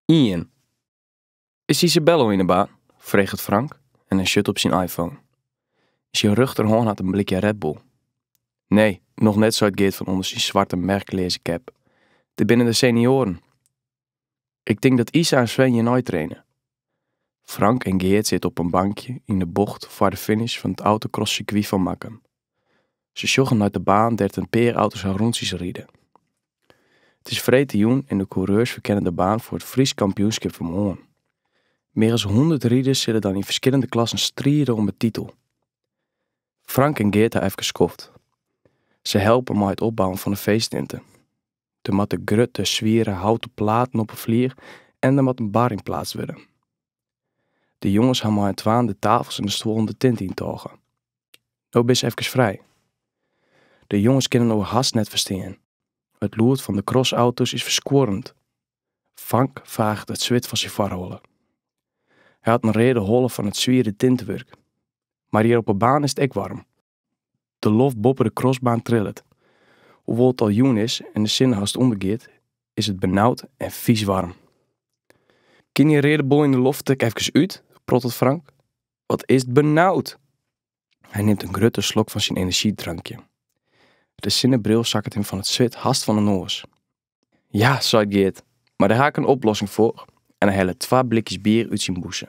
Ien. Is Isabel al yn de baan? freget Frank en hy sjocht op syn iPhone. Yn syn rjochterhân hat er in blikje Red Bull. Nee, noch net, seit Geart fan ûnder syn swarte merkleaze kep. Dit binne de senioaren. Ik tink dat Isa en Sven hjirnei traine. Frank en Geart sitte op in bankje yn de bocht foar de finish fan it autocrosscircuit fan Makkum. Se sjogge nei de baan dêr't in pear auto's har rûntsjes ride. It is freedtejûn en de coureurs ferkenne de baan foar it Frysk kampioenskip fan moarn. Mear as hûndert riders sille dan yn ferskillende klassen stride om de titel. Frank en Geart ha efkes skoft. Se helpe mei it opbouwen fan de feesttinte. Der moatte grutte, swiere houten platen op 'e flier en der moat in bar yn pleatst wurde. De jonges ha mei syn twaën de tafels en de stuollen de tinte yn tôge. No binne se efkes frij. De jonges kinne inoar hast net ferstean. It lûd fan de crossauto's is ferskuorrend. Frank faget it swit fan syn foarholle. Hy hat in reade holle fan it swiere tintewurk. Mar hjir op 'e baan is it ek waarm. De loft boppe de crossbaan trillet. Hoewol't it al jûn is en de sinne hast ûndergiet, is it benaud en fiis waarm. Kin dy reade bol yn de loft ek efkes út? prottelet Frank. Wat is it benaud! Hy nimt in grutte slok fan syn enerzjydrankje. De sinnebril sakket him fan it swit hast fan 'e noas. Ja, seit Geart, mar dêr ha ik in oplossing foar en hy hellet twa blikjes bier út syn bûse.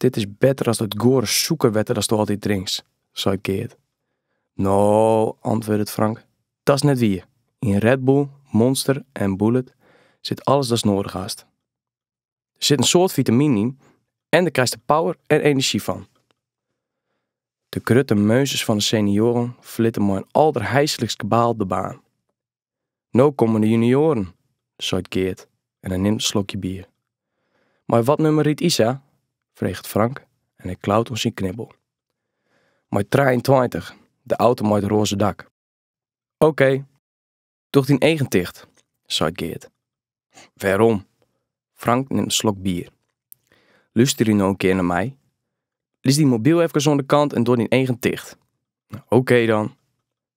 Dit is better as dat goare sûkerwetter datsto altyd drinkst, seit Geart. No, antwurdet Frank, dat's net wier. Yn Red Bull, Monster en Bullit sit alles datst noadich hast. Der sit in soad fitaminen yn en dêr krijste power en enerzjy fan. De grutte meunsters fan de senioaren ferlitte mei in alderheislikst kabaal de baan. No komme de junioaren, seit Geart en hy nimt in slokje bier. Mei wat nummer rydt Isa? freget Frank en hy klaut oan syn knibbel. Mei trijeentweintich, de auto mei it roaze dak. Oké, doch dyn eagen ticht, seit Geart. Wêrom? Frank nimt in slok bier. Lústerje no in kear nei my. Lis dyn mobyl efkes oan de kant en doch dyn eagen ticht. Oké dan.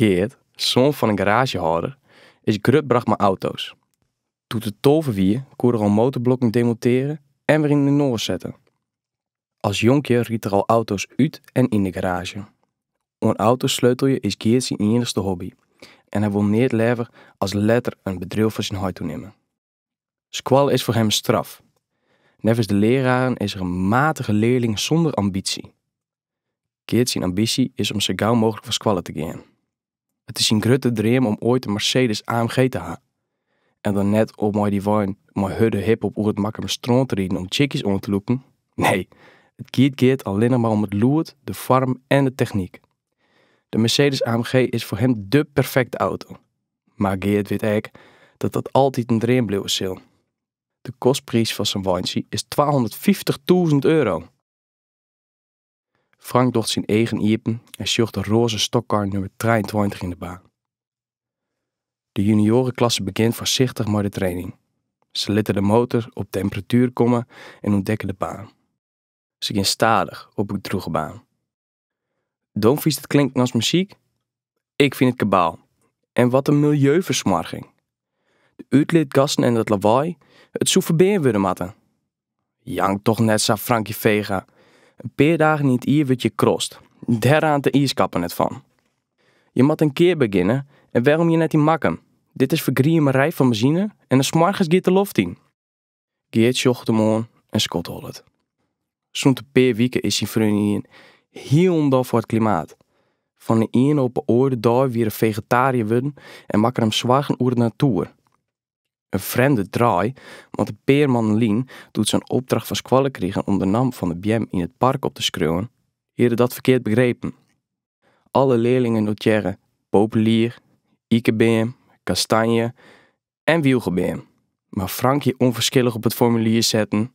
Geart, soan fan in garaazjehâlder, is grut brocht mei auto's. Doe't er tolve wie, koe er al motorblokken demontearje en wer yninoar sette. As jonkje ried er al auto's út en yn de garaazje. Oan auto's sleutelje is Geart syn iennichste hobby en hy wol neat leaver as letter it bedriuw fan syn heit oernimme. Skoalle is foar him in straf. Neffens de leraren is er in matige learling sûnder ambysje. Geart syn ambysje is om sa gau mooglik fan skoalle te gean. It is syn grutte dream om oait in Mercedes AMG te ha. En dan net om mei dy wein mei hurde hiphop oer it Makkumer strân te riden om chickies oan te lûken. Nee, it giet Geart allinnich mar om it lûd, de foarm en de technyk. De Mercedes AMG is foar him de perfekte auto. Mar Geart wit ek dat dat altyd in dream bliuwe sil. De kostpriis fan sa'n weintsje is twahûndertfyftichtûzen euro. Frank docht syn eagen iepen en sjocht de roaze stokkar nûmer trijeentweintich yn de baan. De junioarenklasse begjint foarsichtich mei de training. Se litte de motor op temperatuer komme en ûntdekke de baan. Se gean stadich op de drûge baan. Do fynst it klinken as muzyk? Ik fyn it kabaal. En wat in miljeufersmoarging. De útlitgassen en dat lawaai, it soe ferbean wurde moatte. Jank toch net sa Frankje Vega. In pear dagen yn it jier wurdt hjir krost. Dêr raant de iiskappen net fan. Je moatte in kear begjinne en wêrom net yn Makkum? Dit is fergriemerij fan benzine en dy smoargens giet de loft yn. Geart sjocht him oan en skodhollet. Sûnt in pear wike is syn freon ynienen hielendal foar it klimaat. Fan 'e iene op 'e oare dei wie er fegetariër wurden en makke er him soargen oer de natoer. In frjemde draai, want in pear mannen lyn, doe't se in opdracht fan skoalle krigen om de nammen fan de beammen yn it park op te skriuwen, hie er dat ferkeard begrepen. Alle learlingen notearren, populier, ikebeam, kastanje, en wylgebeam, mar Frankje ûnferskillich op it formulier sette,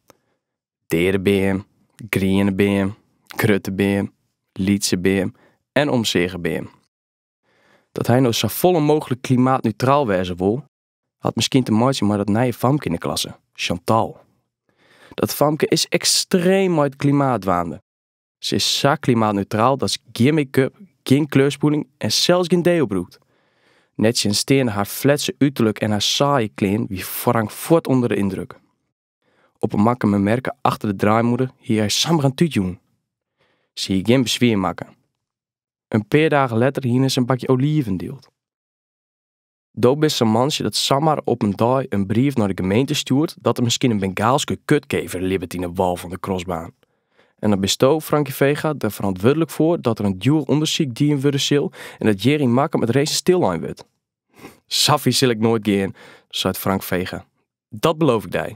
deade beam, griene beam, grutte beam, lytse beam en omseage beam. Dat hy no safolle mooglik klimaatneutraal wêze wol, hat miskien te meitsjen mei dat nije famke yn de klasse, Chantal. Dat famke is ekstreem mei it klimaat dwaande. Se is sa klimaatneutraal dat se gjin make-up, gjin kleurspoeling en sels gjin deo brûkt. Nettsjinsteande har fletse uterlik en har saaie klean wie Frank fuort ûnder de yndruk. Op 'e Makkumer merke achter de draaimûne hie hy samar in tút jûn. Se hie gjin beswier makke. In pear dagen letter hiene se in bakje oliven dield. Do bist sa'n mantsje dat samar op in dei in brief nei de gemeente stjoert dat der miskien in Bengaalske kutkever libbet yn 'e wâl fan de krosbaan. En dan bisto, Frankie Vega, der ferantwurdlik foar dat der in djoer ûndersyk dien wurde sil en dat hjir yn Makkum it racen stillein wurdt. Sa fier sil ik noait gean, seit Frank Vega. Dat beloof ik dy.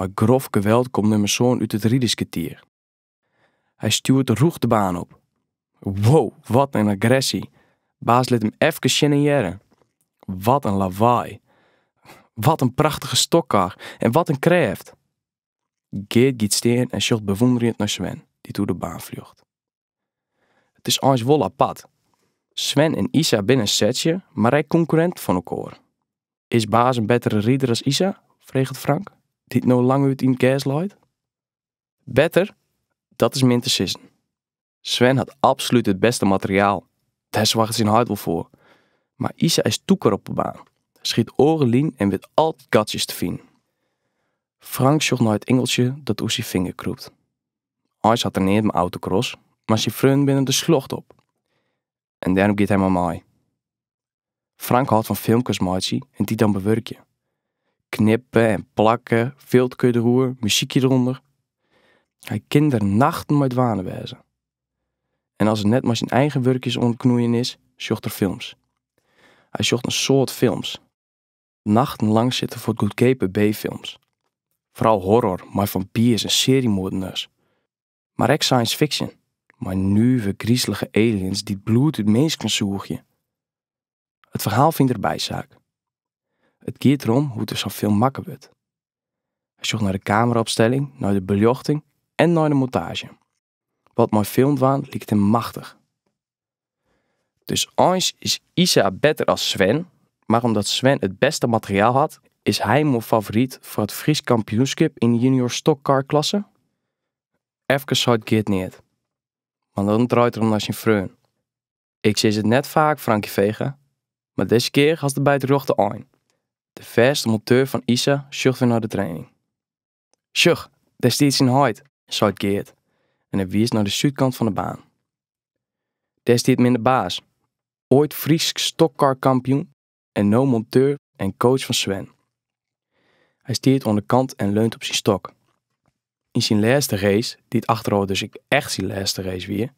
Mei grof geweld komt nummer sân út it riderskertier. Hy stjoert rûch de baan op. Wow, wat in agressy! Baas lit him efkes sjen en hearre. Wat in lawaai! Wat in prachtige stokkar en wat in krêft! Geart giet stean en sjocht bewûnderjend nei Sven, dy't oer de baan fljocht. It is eins wol apart. Sven en Isa binne setsje, mar ek konkurrinten fan elkoar. Is Baas in bettere rider as Isa? freget Frank, dy't no lang út yn it gers leit. Better? Dat is min te sizzen. Sven hat absolút it bêste materiaal, dêr soarget syn heit wol foar. Mar Isa is tûker op de baan, sy hat oare linen en wit altyd gatsjes te finen. Frank sjocht nei it ingeltsje dat oer syn finger krûpt. Eins hat er neat mei autocross, mar syn freonen binne der sljocht op. En dêrom giet hy mei mei. Frank hâldt fan filmkes meitsje en dy dan bewurkje. Knippen en plakken, filterke deroer, muzykje derûnder. Hy kin der nachten mei dwaande wêze. En as er net mei syn eigen wurkjes oan it knoeien is, sjocht er films. Hy sjocht in soad films. nachtenlang sit er foar goedkeape B-films. Fral horror mei fampiers en seriemoardners. Mar ek science fiction, mei nuve grizelige aliens dy't bloed út minsken sûgje. It ferhaal fynt er bysaak. It giet derom hoe't sa'n film makke wurdt. Hy sjocht nei de kameraopstelling, nei de beljochting en nei de montaazje. Wat mei film dwaan liket him machtich. Dus eins is Isa better as Sven, mar omdat Sven it bêste materiaal hat, is hy mear favoryt foar it Frysk kampioenskip yn de junior stokkarklasse? Efkes seit Geart neat, mar dan draait er om nei syn freon. Ik sis it net faak Frankie Vega, mar dizze kear hast it by it rjochte ein. De fêste monteur fan Isa sjocht wer nei de training. Sjoch, dêr stiet syn heit, seit Geart en hy wiist nei de súdkant fan de baan. Dêr stiet Minne Baas, oait Frysk stokkarkampioen en no monteur en coach fan Sven. Hy stiet oan de kant en leunt op syn stok. Yn syn lêste race, dy't achterôf dus ek echt syn lêste race wie,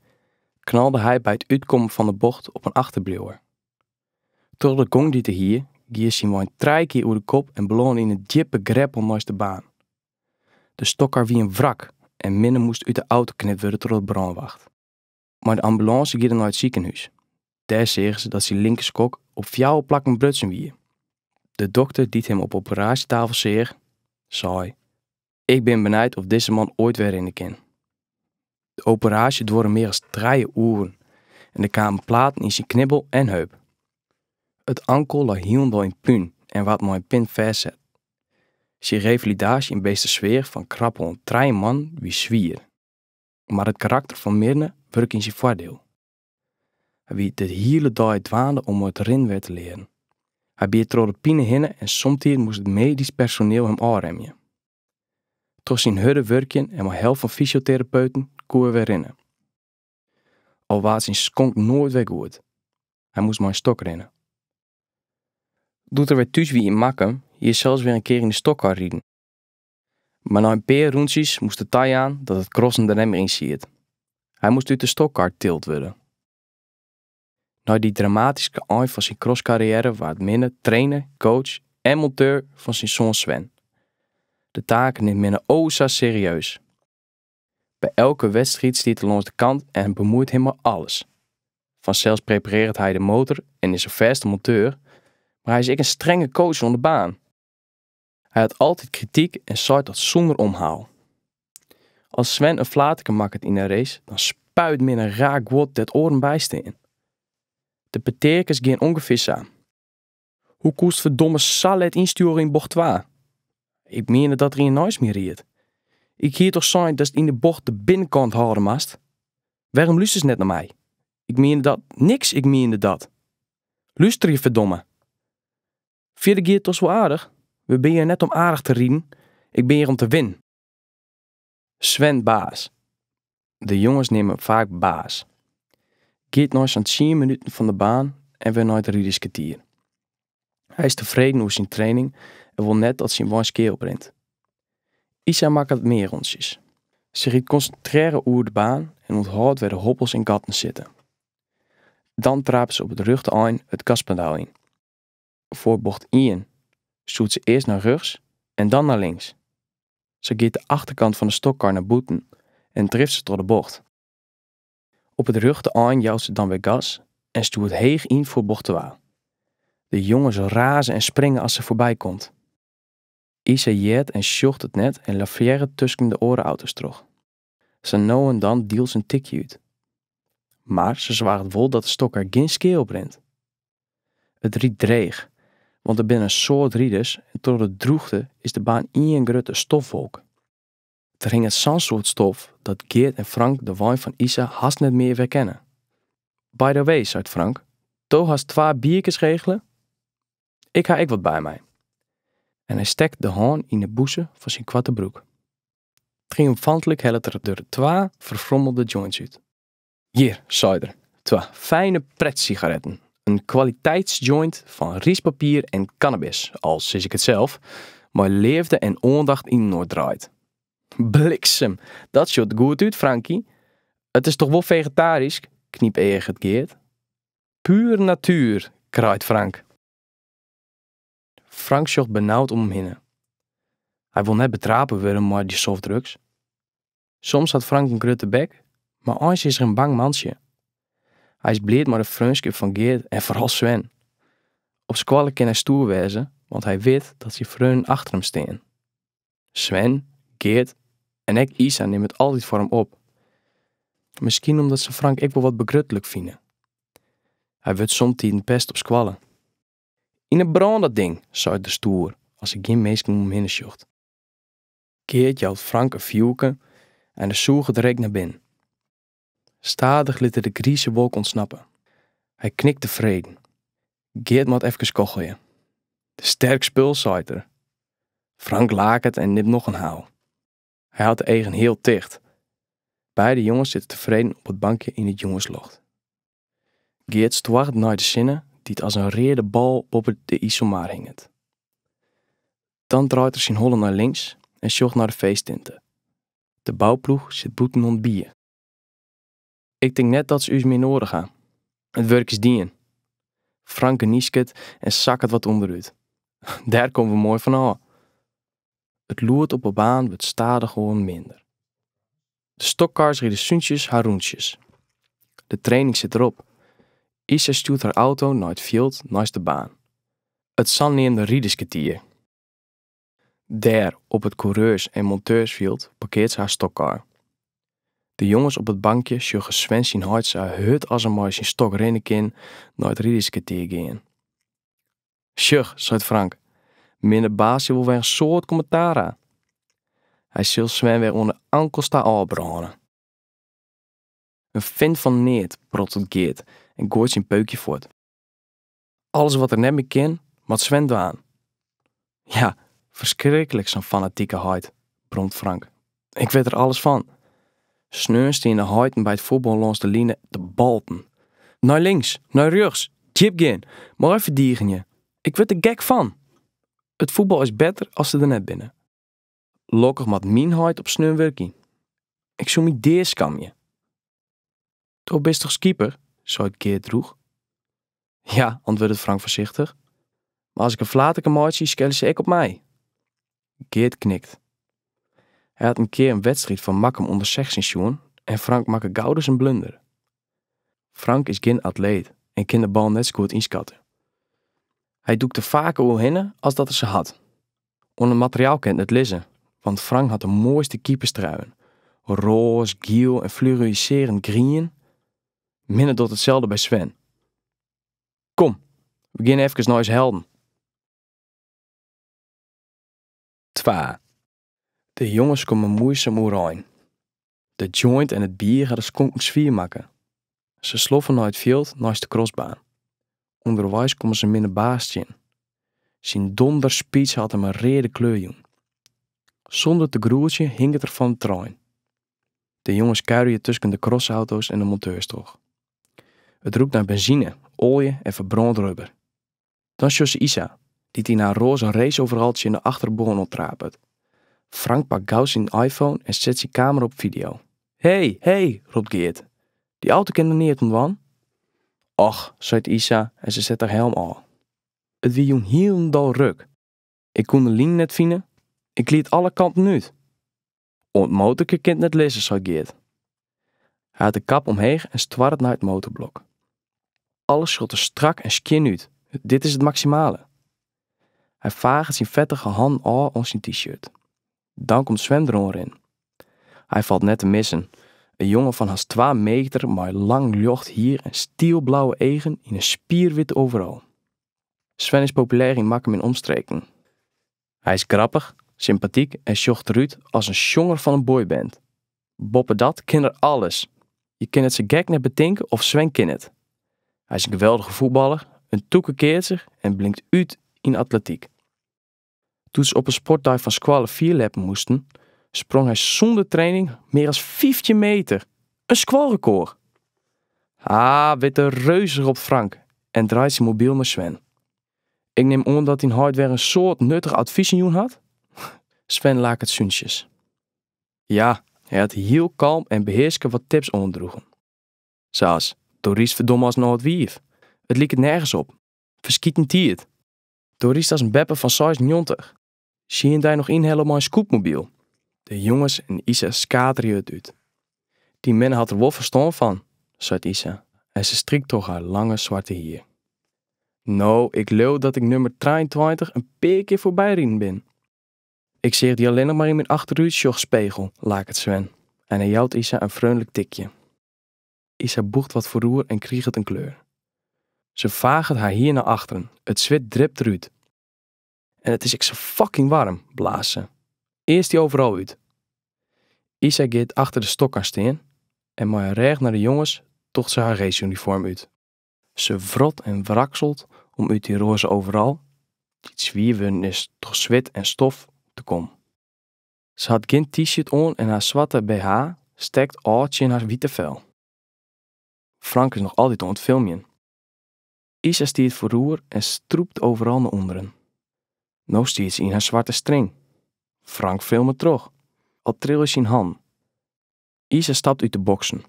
knalde hy by it útkommen fan de bocht op in achterbliuwer. Troch de gong dy't er hie, gie syn wein trije kear oer de kop en belâne yn in djippe greppel neist de baan. De stokkar wie in wrak en Minne moast út de auto knipt wurde troch de brânwacht. Mei de ambulânse gie er nei it sikehûs. Dêr seagen se dat syn linkerskonk op fjouwer plakken brutsen wie. De dokter dy't him op de operaasjetafel seach, sei, Ik bin benijd of dizze man oait wer rinne kin. De operaasje duorre mear as trije oeren en der kamen platen yn syn knibbel en heup. It ankel lei hielendal yn pún en waard mei in pin fêstset. Syn revalidaasje yn Beetstersweach fan krap oan trije moanne wie swier, mar it karakter fan Minne wurke yn syn foardiel. Hy wie de hiele dei dwaande om it rinnen wer te learen. Hy biet troch de pine hinne en somtiden moast it medysk personeel him ôfremje. Troch syn hurde wurkjen en mei help fan fysioterapeuten koe er wer rinne. Al waard syn skonk noait wer goed. Hy moast mei in stok rinne. Doe't er wer thús wie yn Makkum, hie er sels wer in kear yn de stokkar riden. Mar nei in pear rûntsjes moast er tajaan dat it crossen der net mear yn siet. Hy moast út de stokkar tild wurde. Nei dy dramatyske ein fan syn crosskarriêre waard Minne trainer, coach en monteur fan syn soan Sven. Dy taak nimt Minne o sa serieus. By elke wedstriid stiet er lâns de kant en bemoeit him mei alles. Fansels preparearret hy de motor en is de fêste monteur, mar hy is ek in strenge coach oan de baan. Hy hat altyd krityk en seit dat sûnder omhaal. As Sven in flaterke makket yn in race, dan spuit Minne raar guod dêr't oaren by stean. De peteakes gean ûngefear sa. Hoe koest ferdomme sa let ynstjoere yn bocht twa? Ik miende dat der ien neist my ried. Ik hie toch sein datst yn de bocht de binnenkant hâlde moatst? Wêrom lústerst net nei my? Ik miende dat, niks, ik miende dat. Lústerje ferdomme! Fierder gie it dochs wol aardich. We binne hjir net om aardich te riden, ik bin hjir om te winnen. Sven Baas, de jonges neame him faak Baas, giet nei sa'n tsien minuten fan de baan en wer nei it riderskertier. Hy is tefreden oer syn training en wol net dat syn wein skea oprint. Isa makket mear rûntsjes. Se rydt konsintrearre oer de baan en ûnthâldt wêr't de hobbels en gatten sitte. Dan trapet se op it rjochte ein it gaspedaal yn. foar bocht ien stjoert se earst nei rjochts en dan nei links. Sa giet de achterkant fan de stokkar nei bûten en drift se troch de bocht. Op it rjochte ein jout se dan wer gas en stjoert heech yn foar bocht twa. De jonges raze en springe as se foarby komt. Isa heart en sjocht it net en lavearret tusken de oare auto's troch. Sa no en dan dielt se in tikje út. Mar se soarget wol dat de stokker gjin skea oprint. It rydt dreech, want der binne in soad riders en troch de drûchte is de baan ien grutte stofwolk. Der hinget sa'n soad stof dat Geart en Frank de wein fan Isa hast net mear werkenne. By the way, seit Frank, do hast twa bierkes regele? Ik ha ek wat by my. En hy stekt de hân yn 'e bûse fan syn koarte broek. Triomfantlik hellet er der twa ferfrommelde joints út. Hjir, seit er, twa fijne pretsigaretten, in kwaliteitsjoint fan ryspapier en kannabis, al sis ik it sels, mei leafde en oandacht yninoar draaid. Bliksem, dat sjocht goed út, Franky! It is toch wol fegetarysk? knypeaget Geart. Puer natuer, kraait Frank. Frank sjocht benaud om him hinne. Hy wol net betrape wurde mei de softdrugs. Soms hat Frank in grutte bek, mar eins is er in bang mantsje. Hy is bliid mei de freonskip fan Geart en foaral Sven. Op skoalle kin hy stoer wêze, want hy wit dat syn freonen achter him stean. Sven, Geart en ek Isa nimme it altyd foar him op. Miskien omdat se Frank ek wol wat begrutlik fine. Hy wurdt somtiden pest op skoalle. Yn 'e brân dat ding, seit er stoer, as er gjin minsken om him hinne sjocht. Geart jout Frank in fjurke en dy sûget de reek nei binnen. Stadich lit er de grize wolk ûntsnappe. Hy knikt tefreden. Geart moat efkes kochelje. Sterk spul, seit er. Frank laket en nimt noch in haal. Hy hat de eagen heal ticht. Beide jonges sitte tefreden op it bankje yn it jûnslocht. Geart stoart nei de sinne dy't as in reade bal boppe de Iselmar hinget. Dan draait er syn holle nei links en sjocht nei de feesttinte. De bouploech sit bûten oan it bier. Ik tink net dat se ús mear noadich ha. It wurk is dien. Frank gnysket en sakket wat ûnderút. Dêr komme we moai fan ôf. It lûd op 'e baan wurdt stadichoan minder. De stokkars ride súntsjes har rûntsjes. De training sit der op. Isa stjoert har auto nei it fjild neist de baan. It saneamde riderskertier. Dêr, op it koereurs- en monteursfjild, parkearret se har stokkar. De jonges op it bankje sjogge Sven syn heit sa hurd as er mei syn stok rinne kin nei it riderskertier gean. Sjoch, seit Frank, Minne Baas sil wol wer in soad kommentaar ha. Hy sil Sven wer oan 'e ankels ta ôfbrâne. In fint fan neat, prottelet Geart en gooit syn peukje fuort. Alles wat er net mear kin, moat Sven dwaan. Ja, ferskriklik sa'n fanatike heit, bromt Frank. Ik wit der alles fan. Sneons steane de heiten by it fuotbal lâns de line te balten. Nei links, nei rjochts, djip gean, moai ferdigenje. Ik wurd der gek fan. It fuotbal is better as se der net binne. Lokkich moat myn heit op sneon wurkje. Ik soe my dea skamje. Do bist toch keeper? seit Geart droech. Ja, antwurdet Frank foarsichtich. Mar as ik in flaterke meitsje, skelle se ek op my. Geart knikt. Hy hat in kear in wedstriid fan Makkum ûnder sechstjin sjoen en Frank makke gauris in blunder. Frank is gjin atleet en kin de bal net sa goed ynskatte. Hy dûkt der faker oerhinne as dat er se hat. Oan it materiaal kin it net lizze, want Frank hat de moaiste keeperstruien, roas, giel en fluoriserend grien. Minne docht itselde by Sven. Kom, we geane efkes nei ús helden. Twa. De jonges komme moaisom oerein. De joint en it bier ha de skonken swier makke. Se sloffe nei it fjild neist de krostbaan. Underweis komme se Minne Baas tsjin. Syn donderspeech hat him in reade kleur jûn. Sûnder te groetsjen hinket er fan it terrein. De jonges kuierje tusken de krostauto's en de monteurs troch. It rûkt nei benzine, oalje en ferbrând rubber. Dan sjogge se Isa, dy't yn har roaze raceoverall tsjin de achterbân oan trapet. Frank pakt gau syn iPhone en set syn kamera op fideo. Hey, hey! ropt Geart. Dy auto kin der neat om dwaan. Och, seit Isa en se set har helm ôf. It wie jûn hielendal ruk. Ik koe de lyn net fine. Ik glied alle kanten út. Oan 't motorke kin 't net lizze, seit Geart. Hy hat de kap omheech en stoarret nei it motorblok. Alles sjocht der strak en skjin út, dit is it maksimale. Hy faget syn fettige hannen ôf oan syn t-shirt. Dan komt Sven der oanrinnen. Hy falt net te missen, in jonge fan hast twa meter mei lang ljocht hier en stielblauwe eagen yn in spierwit overall. Sven is populêr yn Makkum en omstreken. Hy is grappich, sympatyk en sjocht derút as in sjonger fan in boyband. Boppedat kin er alles! Je kinne it sa gek net betinke of Sven kin it. Hy is in geweldige fuotballer, in tûke keatser en blinkt út yn atletyk. Doe't se op in sportdei fan skoalle fierljeppen moasten, sprong hy sûnder training mear as fyftjin meter, in skoalrekôr! Haah, witte reus, ropt Frank en draait syn mobyl nei Sven. Ik nim oan dat dyn heit wer in soad nuttige advizen jûn hat? Sven laket súntsjes. Ja, hy hat hiel kalm en behearske wat tips oandroegen. Sa as, Do rydst ferdomme as in âld wiif. It liket nergens op. Ferskiten tiid. Do rydst as in beppe fan seisennjoggentich. Se hie dy noch ynhelle mei in scootmobyl. De jonges en Isa skaterje it út. Dyn mem hat der wol ferstân fan, seit Isa en se strykt troch har lange swarte hier. No, ik leau dat ik nummer trijeentweintich in pear kear foarby riden bin. Ik seach dy allinnich mar yn myn achterútsjochspegel, laket Sven en hy jout Isa in freonlik tikje. Isa bûcht wat foaroer en kriget in kleur. Se faget har hier nei achteren, it swit dript derút. En it is ek sa fucking warm, blaast se. Earst dy overal út. Isa giet achter de stockcar stean en mei de rêch nei de jonges docht se har reesunifoarm út. Se wrot en wrakselt om út dy roaze overal, dy't swier wurden is troch swit en stof, te kommen. Se hat gjin t-shirt oan en har swarte bh stekt ôf tsjin har wite fel. Frank is noch altyd oan it filmjen. Isa stiet foaroer en strûpt overal nei ûnderen. No stiet se yn har swarte string. Frank filmet troch. Al trilje syn hannen. Isa stapt út de boksen.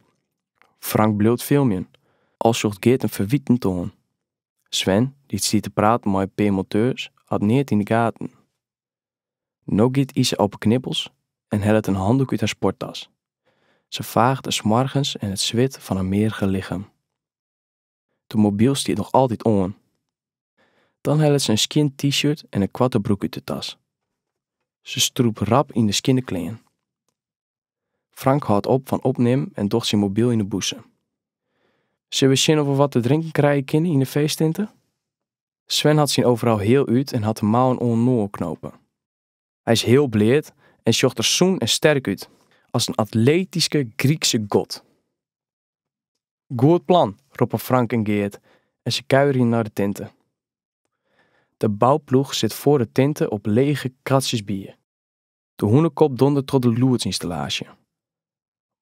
Frank bliuwt filmjen. Al sjocht Geart him ferwitend oan. Sven, dy't stiet te praten mei in pear monteurs, hat neat yn de gaten. No giet Isa op 'e knibbels en hellet in handoek út har sporttas. Se faaget de smoargens en it swit fan har meagere lichem. De mobyl stiet noch altyd oan. Dan hellet se in skjin t-shirt en in koarte broek út de tas. Se strûpt rap yn de skjinne klean. Frank hâldt op fan opnimmen en docht syn mobyl yn de bûse. Sille we sjen oft we wat te drinken krije kinne yn de feesttinte? Sven hat syn overal heal út en hat de mouwen oaninoar knope. Hy is heal bleat en sjocht der sûn en sterk út, as in atletyske Grykse god. Goed plan, roppe Frank en Geart en se kuierje nei de tinte. De bouploech sit foar de tinte op lege kratsjes bier. De Hûnekop dondert troch de lûdsynstallaasje.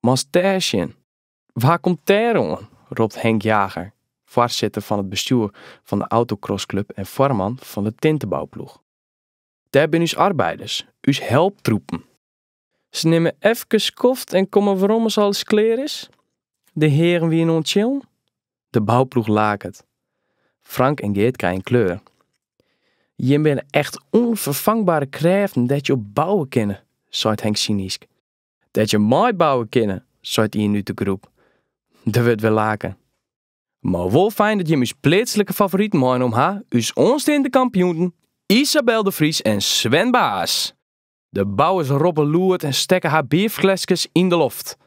Moatst dêr sjen! Wa komt dêr oan? ropt Henk Jager, foarsitter fan it bestjoer fan de autocrossclub en foarman fan de tintebouploech. Dêr binne ús arbeiders, ús helptroepen. Se nimme efkes skoft en komme werom as alles klear is. De hearen wiene oan it chillen. De bouploech laket. Frank en Geart krije in kleur. Jim binne echt ûnferfangbare krêften dêr't je op bouwe kinne, seit Henk synysk. Dêr't je mei bouwe kinne, seit ien út de groep. Der wurdt wer laken. Mar wol fijn dat jim ús pleatslike favoriten meinommen ha, ús oansteande kampioenen Isabel de Vries en Sven Baas. De bouwers roppe lûd en stekke har bierfleskes yn de loft.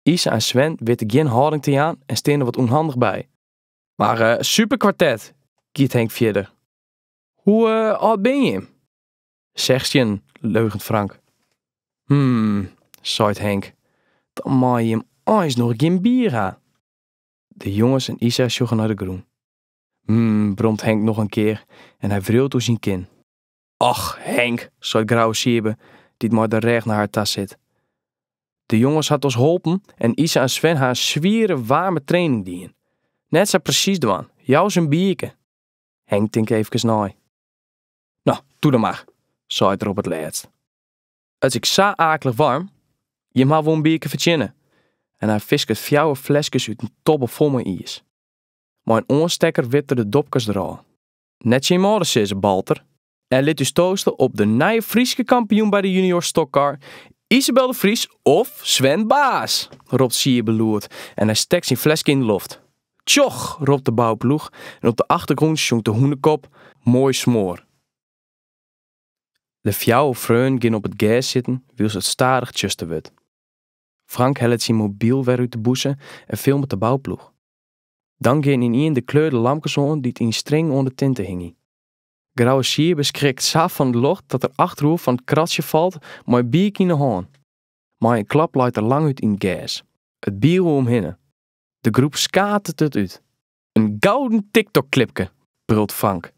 Isa en Sven witte gjin hâlding te jaan en steane der wat ûnhandich by. Mar superkwartet, giet Henk fierder, hoe âld binne jim? Sechstjin, leugent Frank. Hm, seit Henk, dan mei jim eins noch gjin bier ha. De jonges en Isa sjogge nei de grûn. Hm, bromt Henk noch in kear en hy wriuwt oer syn kin. Och, Henk, seit Grouwe Siebe, dy't mei de rêch nei har ta sit. De jonges ha ús holpen en Isa en Sven ha in swiere, waarme training dien. Net sa presys dwaan, jou se in bierke. Henk tinkt eefkes nei. No, toe dan mar, seit er op it lêst. It is ek sa aaklich warm, jim ha wol in bierke fertsjinne en hy fisket fjouwer fleskes út in tobbe fol mei iis. Mei in oanstekker wipt er de dopkes derôf. Net tsjin jim âlden sizze, balt er! En lit ús toaste op de nije Fryske kampioen by de Junior Stock Car, Isabel de Vries of Sven Baas! ropt Siebe lûd en hy stekt syn fleske yn de loft. Tsjoch! ropt de bouploech en op de achtergrûn sjongt De Hûnekop Moai smoar. De fjouwer freonen gean op it gers sitten wylst it stadich tsjuster wurdt. Frank hellet syn mobyl wer út de bûse en filmet de bouploech. Dan gean ynien de kleurde lampkes oan dy't yn string oan de tinte hingje. Grouwe Siebe skrikt sa fan it ljocht dat er achteroer fan it kratsje falt mei in bierke yn 'e hân. Mei in klap leit er langút yn it gers. It bier oer him hinne. De groep skatert it út. In gouden TikTok-klipke, brult Frank.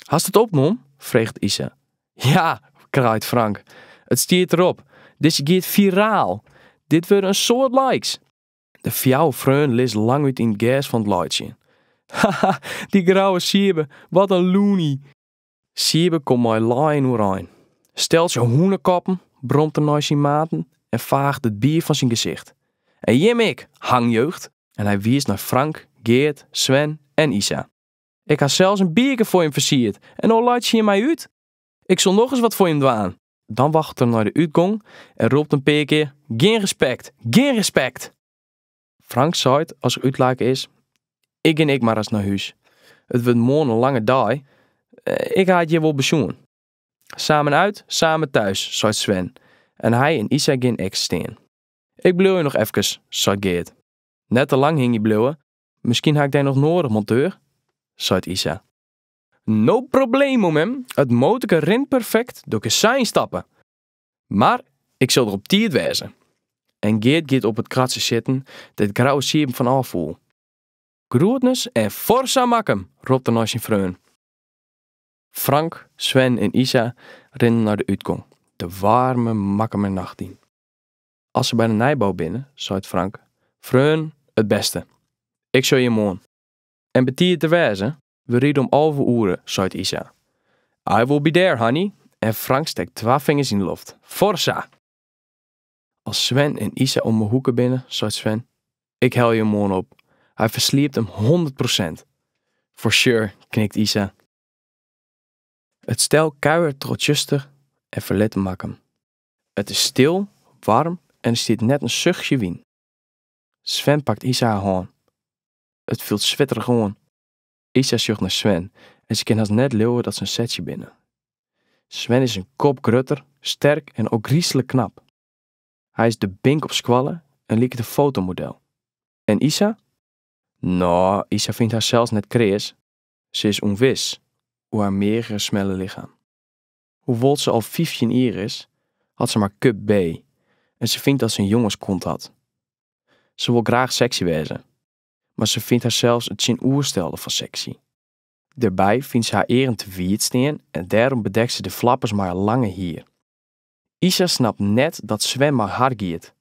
Hast it opnommen? freget Isa. Ja, kraait Frank. It stiet derop. Dizze giet viraal. Dit wurde een soad likes. De fjouwer freonen lizze langút yn it gers fan it laitsjen. Haha, dy Grouwe Siebe, wat in loony! Siebe komt mei lijen oerein. Steltsje hûnekoppen, bromt er nei syn maten en faacht it bier fan syn gesicht. En jim ek, hangjeugd! En hy wiist nei Frank, Geart, Sven en Isa. Ik ha sels in bierke foar jim fersierd en no laitsje jim my út! Ik sil nochris wat foar jim dwaan! Dan waggelet er nei de útgong en ropt in pear kear, Gjin respekt! Gjin respekt! Frank seit as er útlake is, Ik gean ek mar ris nei hús. It wurdt moarn in lange dei. Ik ha it hjir wol besjoen. Samen uit, samen thuis, seit Sven en hy en Isa gean ek stean. Ik bliuwe noch efkes, seit Geart. Net te lang hingje bliuwe, miskien ha ik dy noch noadich, monteur, seit Isa. No problemo, mem, it motorke rint perfekt, do kinst sa ynstappe. Mar ik sil der op tiid wêze. En Geart giet op it kratsje sitten dêr't Grouwe Sieben fan ôf foel. Groetnis en Forza Makkum! ropt er nei syn freonen. Frank, Sven en Isa rinne nei de útgong, de waarme Makkumer nacht yn. As se by de nijbou binne, seit Frank, Freonen, it bêste. Ik sjoch jim moarn. En betiid der wêze? We ride om alve oere, seit Isa. I will be there, honey! en Frank stekt twa fingers yn 'e loft. Forza! As Sven en Isa om 'e hoeke binne, seit Sven, Ik helje him moarn op. Hy fersliept him hûndert prosint. For sure, knikt Isa. It stel kuiert troch 't tsjuster en ferlit Makkum. It is stil, waarm en der stiet net in suchje wyn. Sven pakt Isa har hân. It fielt switterich oan. Isa sjocht nei Sven en se kin hast net leauwe dat se in setsje binne. Sven is in kop grutter, sterk en ôfgryslik knap. Hy is de bink op skoalle en liket in fotomodel. En Isa? No, Isa fynt harsels net kreas, se is ûnwis oer har meagere smelle lichem. Hoewol't se al fyftjin jier is, hat se mar cup B en se fynt dat se in jongenskont hat. Se wol graach seksy wêze, mar se fynt harsels it tsjinoerstelde fan seksy. Dêrby fynt se har earen te wiid stean en dêrom bedekt se de flappers mei har lange hier. Isa snapt net dat Sven mei har giet.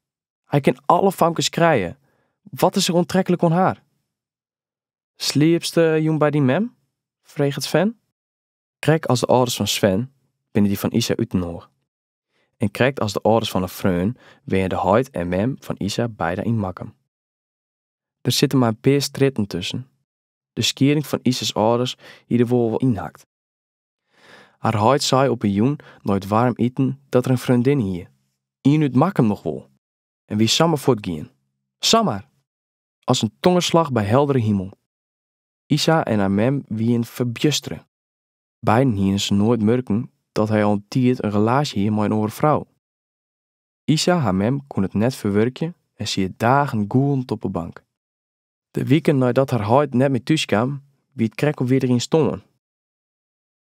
Hy kin alle famkes krije, wat is er oantreklik oan har? Sliepste jûn by dyn mem? freget Sven. Krekt as de âlders fan Sven binne dy fan Isa útinoar. En krekt as de âlders fan har freon wenje de heit en mem fan Isa beide yn Makkum. Der sitte mar in pear strjitten tusken. De skieding fan Isa's âlders hie der wol ynhakt. Har heit sei op in jûn nei it waarm iten dat er in freondinne hie, ien út Makkum noch wol, en wie samar fuortgien. Samar! As in tongerslach by heldere himel. Isa en har mem wiene ferbjustere. Beiden hiene se noait murken dat hy al in tiid in relaasje hie mei in oare frou. Isa har mem koe it net ferwurkje en siet dagen gûlend op 'e bank. De wiken neidat har heit net mear thús kaam, wie it krekt al wie er der yn stoarn.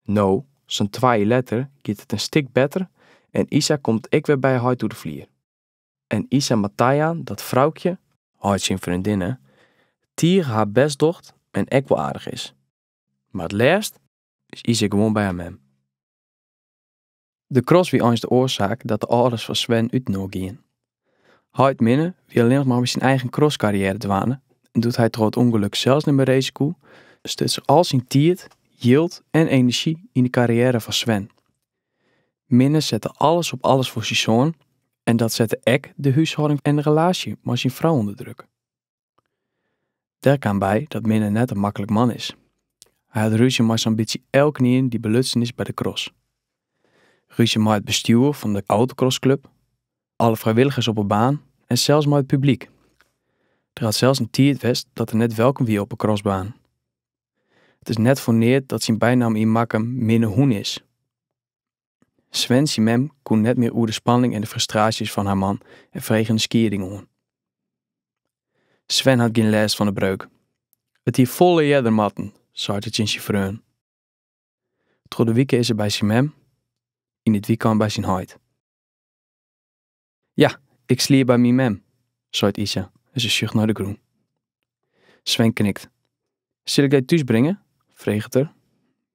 No, sa'n twa jier letter, giet it in stik better en Isa komt ek wer by heit oer de flier. En Isa moat tajaan dat Froukje, heit syn freondinne, tige har bêst docht en ek wol aardich is. Mar it leafst is Isa gewoan by har mem. De cross wie eins de oarsaak dat de âlders fan Sven útinoar gienen. Heit Minne wie allinnich mar mei syn eigen crosskarriêre dwaande en doe't hy troch it ûngelok sels net mear race koe, stutst er al syn tiid, jild en enerzjy yn de karriêre fan Sven. Minne sette alles op alles foar syn soan en dat sette ek de húshâlding en relaasje mei syn frou ûnder druk. Dêr kaam by dat Minne net in maklik man is. Hy hat rúzje mei sa'n bytsje elkenien dy't belutsen is by de cross. Rúzje mei it bestjoer fan de autocrossklub, alle frijwilligers op 'e baan en sels mei it publyk. Der hat sels in tiid west dat er net welkom wie op 'e crossbaan. It is net foar neat dat syn bynaam yn Makkum Minne Hûn is. Sven syn mem koe net mear oer de spanning en de frustraasjes fan har man en frege in skieding oan. Sven hat gjin lêst fan de breuk. It hie folle earder moatten, seit er tsjin syn freon. Troch de wike is er by syn mem, yn it wykein by syn heit. Ja, ik sliep by myn mem, seit Isa en se sjocht nei de grûn. Sven knikt. Sil ik dy thús bringe? freget er.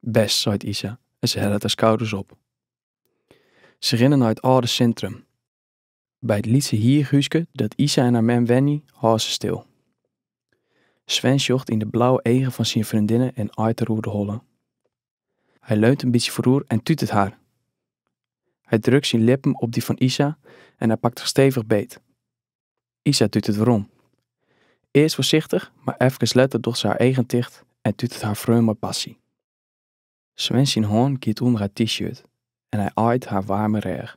Best, seit Isa en se hellet har skouders op. Se rinne nei it âlde sintrum. By it lytse hierhúske dat Isa en har mem wenje, hâlde se stil. Sven sjocht yn de blauwe eagen fan syn freondinne en aait har oer de holle. Hy leunt in bytsje foaroer en tutet har. Hy drukt syn lippen op dy fan Isa en hy pakt har stevich beet. Isa tutet werom. Earst foarsichtich, mar efkes letter docht se har eagen ticht en tutet har freon mei passy. Sven syn hân giet ûnder har t-shirt en hy aait har waarme rêch.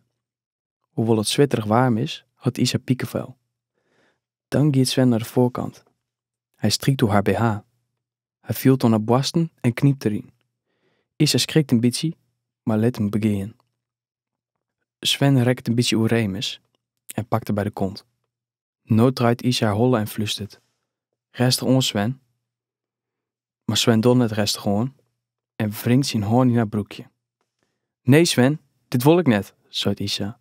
Hoewol't it switterich waarm is, hat Isa pikefel. Dan giet Sven nei de foarkant. Hy strykt oer har bh. Hy fielt oan har boarsten en knypt deryn. Isa skrikt in bytsje, mar lit him begean. Sven rekket in bytsje oerémis en pakt har by de kont. No draait Isa har holle en flustert, Rêstich oan, Sven! Mar Sven docht net rêstich oan en wringt syn hân yn har broekje. Nee, Sven, dit wol ik net, seit Isa.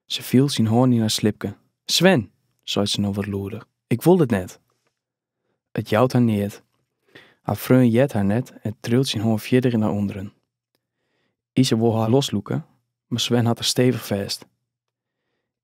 Se fielt syn hân yn har slipke. Sven, seit se no wat lûder, ik wol it net! It jout har neat. Har freon heart har net en triuwt syn hân fierder nei ûnderen. Isa wol har loslûke, mar Sven hat har stevich fêst.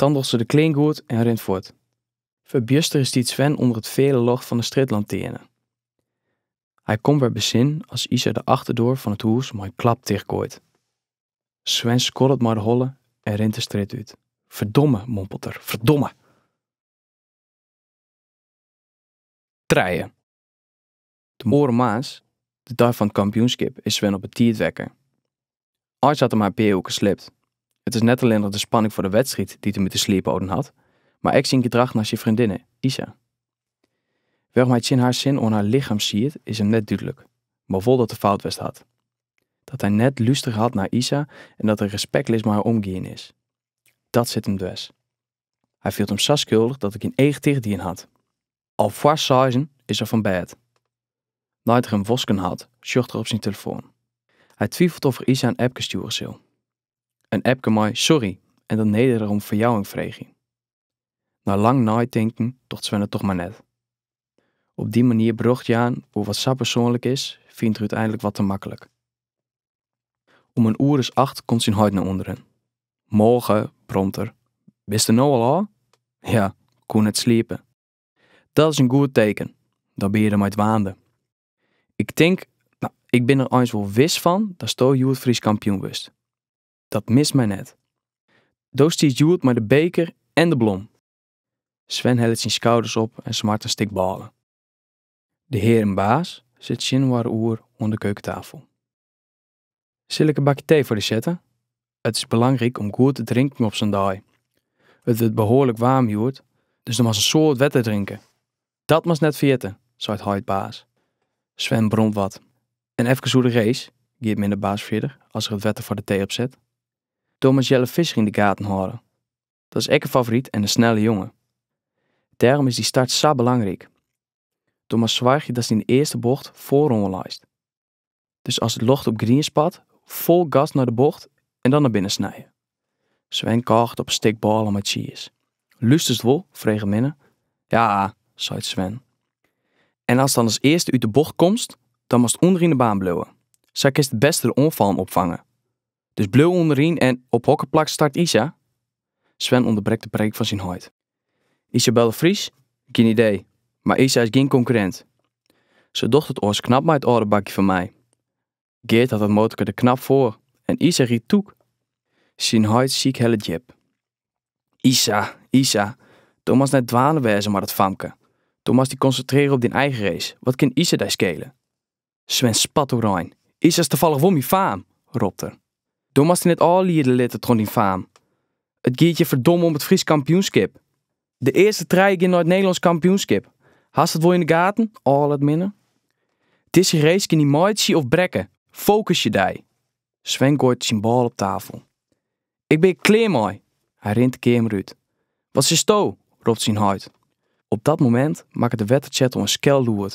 Dan docht se de klean goed en rint fuort. Ferbjuster stiet Sven ûnder it feale ljocht fan de strjitlantearne. Hy komt wer besin as Isa de achterdoar fan it hûs mei in klap tichtgooit. Sven skoddet mei de holle en rint de strjitte út. Ferdomme, mompelt er, ferdomme! Trije. De oare moarns, de dei fan it kampioenskip, is Sven op 'e tiid wekke. Eins hat er mar in pear oerkes slept. It is net allinnich de spanning foar de wedstriid dy't him út 'e sliep holden hat, mar ek syn gedrach nei syn freondinne, Isa. Wêrom hy tsjin har sin oan har lichem siet, is him net dúdlik, mar wol dat er fout west hat. Dat hy net lústere hat nei Isa en dat er respektleas mei har omgien is. Dat sit him dwers. Hy fielt him sa skuldich dat er gjin each ticht dien hat. Al foar seizen is er fan bêd. Nei't er him wosken hat, sjocht er op syn telefoan. Hy twifelt oft er Isa in apke stjoere sil. In apke mei sorry en dan nederich om ferjouwing freegje. Nei lang neitinken docht Sven it toch mar net. Op dy manier berjocht jaan oer wat sa persoanlik is, fynt er úteinlik wat te maklik. Om in oer as acht komt syn heit nei ûnderen. Moarge, bromt er, bist der no al ôf? Ja, koe net sliepe. Dat is in goed teken, dan binne je der mei dwaande. Ik tink, nou, ik bin der eins wol wis fan datsto hjoed Frysk kampioen wurdst. Dat mist my net. Do stiest hjoed mei de beker en de blom. Sven hellet syn skouders op en smart in stik bôle. De hearen Baas sitte tsjininoar oer oan de keukentafel. Sil ik in bakje tee foar dy sette? It is belangryk om goed te drinken op sa'n dei. It wurdt behoarlik waarm hjoed, dus do moatst in soad wetter drinke. Dat moatst net ferjitte, seit heit Baas. Sven bromt wat. En efkes oer de race, giet Minne Baas fierder as er it wetter foar de tee opset. Do moatst Jelle Visser yn de gaten hâlde. Dat is ek in favoryt en in snelle jonge. Dêrom is dy start sa belangryk. Do moatst soargje datst yn de earste bocht foaroan leist. Dus as it ljocht op grien spat, fol gas nei de bocht en dan nei binnen snije. Sven kôget op in stik bôle mei tsjiis. Lusterst wol? freget Minne. Ja, seit Sven. En ast dan as earste út de bocht komst, dan moatst ûnderyn de baan bliuwe. Sa kinst it bêste de oanfallen opfange. Dus bliuw ûnderyn. En op hokker plak start Isa? Sven ûnderbrekt de preek fan syn heit. Isabel de Vries? Gjin idee, mar Isa is gjin konkurrint. Se docht it oars knap mei it âlde bakje fan my. Geart hat dat motorke der knap foar en Isa rydt tûk. Syn heit sykhellet djip. Isa, Isa, do moatst net dwaande wêze mei dat famke. Do moatst dy konsintrearje op dyn eigen race, wat kin Isa dy skele? Sven spat oerein. Isa is tafallich wol myn faam, ropt er. Do moatst dy net ôfliede litte troch dyn faam. It giet hjir ferdomme om it Frysk kampioenskip. De earste trije gean nei it Nederlânsk kampioenskip. Hast it wol yn de gaten, âlet Minne? Dizze race kin dy meitsje of brekke. Fokusje dy! Sven gooit syn bôle op tafel. Ik bin hjir klear mei! Hy rint de keamer út. Wat silsto? ropt syn heit. Op dat momint makket de wettertsjertel in skel lûd.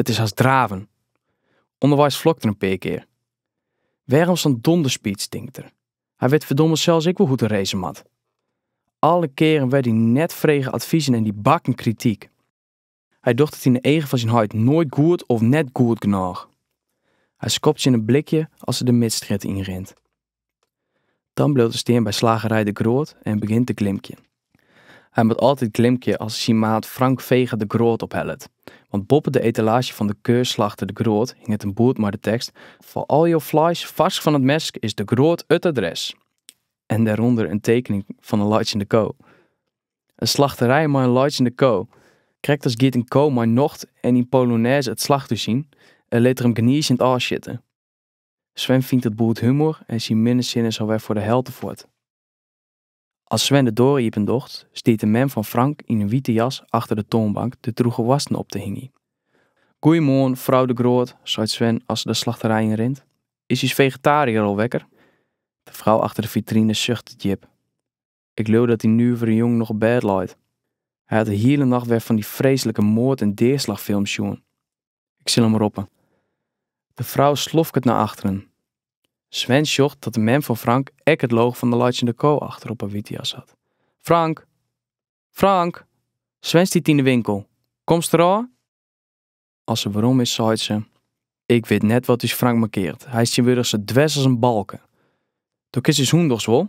It is hast draven. Underweis flokt er in pear kear. Wêrom sa'n donderspeech, tinkt er. Hy wit ferdomme sels ek wol hoe't er race moat. Alle kearen wer dy net frege advizen en dy bakken krityk. Hy docht it yn de eagen fan syn heit noait goed of net goed genôch. Hy skopt tsjin in blikje as er de Midstrjitte yn rint. Dan bliuwt er stean by slagerij De Groot en begjint te glimkjen. Hy moat altyd glimkje as er syn maat Frank Vega De Groot ophellet, want boppe de etalaazje fan de keurslachter De Groot hinget in boerd mei de tekst, Foar al jo fleis farsk fan it mes is De Groot it adres! en dêrûnder in tekening fan in laitsjende ko. In slachterij mei in laitsjende ko! Krekt as giet in ko mei nocht en yn polonêze it slachthûs yn en lit er him gnizend ôfsjitte. Sven fynt it boerd humor en syn minne sin is alwer foar de helte fuort. As Sven de doar iependocht, stiet de mem fan Frank yn in wite jas achter de toanbank de droege woarsten op te hingjen. Goeiemoarn, frou De Groot, seit Sven as er de slachterij yn rint. Is ús fegetaariër al wekker? De frou achter de fitrine suchtet djip. Ik leau dat dy nuvere jonge noch op bêd leit. Hy hat de hiele nacht wer fan dy freeslike moard en deaslachfilms sjoen. Ik sil him roppe. De frou slofket nei achteren. Sven sjocht dat de mem fan Frank ek it logo fan de laitsjende ko achter op har wite jas hat. Frank! Frank! Sven stiet yn de winkel. Komst der ôf? As se werom is, seit se, Ik wit net wat ús Frank mankeart. Hy is tsjintwurdich sa dwers as in balke. Do kinst ús hûn dochs wol.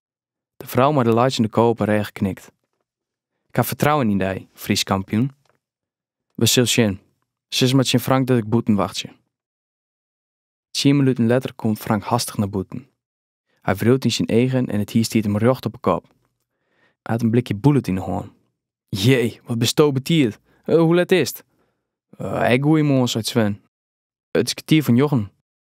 De frou mei de laitsjende ko op 'e rêch knikt. Ik ha fertrouwen yn dy, Frysk kampioen. We sil sjen. Sis mar tsjin Frank dat ik bûten wachtsje. Tsien minuten letter komt Frank hastich nei bûten. Hy wriuwt yn syn eagen en it hier stiet him rjocht op 'e kop. Hy hat in blikje Bullit yn 'e hân. Jee, wat bisto betiid! Hoe let is it? Ek goeiemoarn, seit Sven. It is kertier foar njoggen.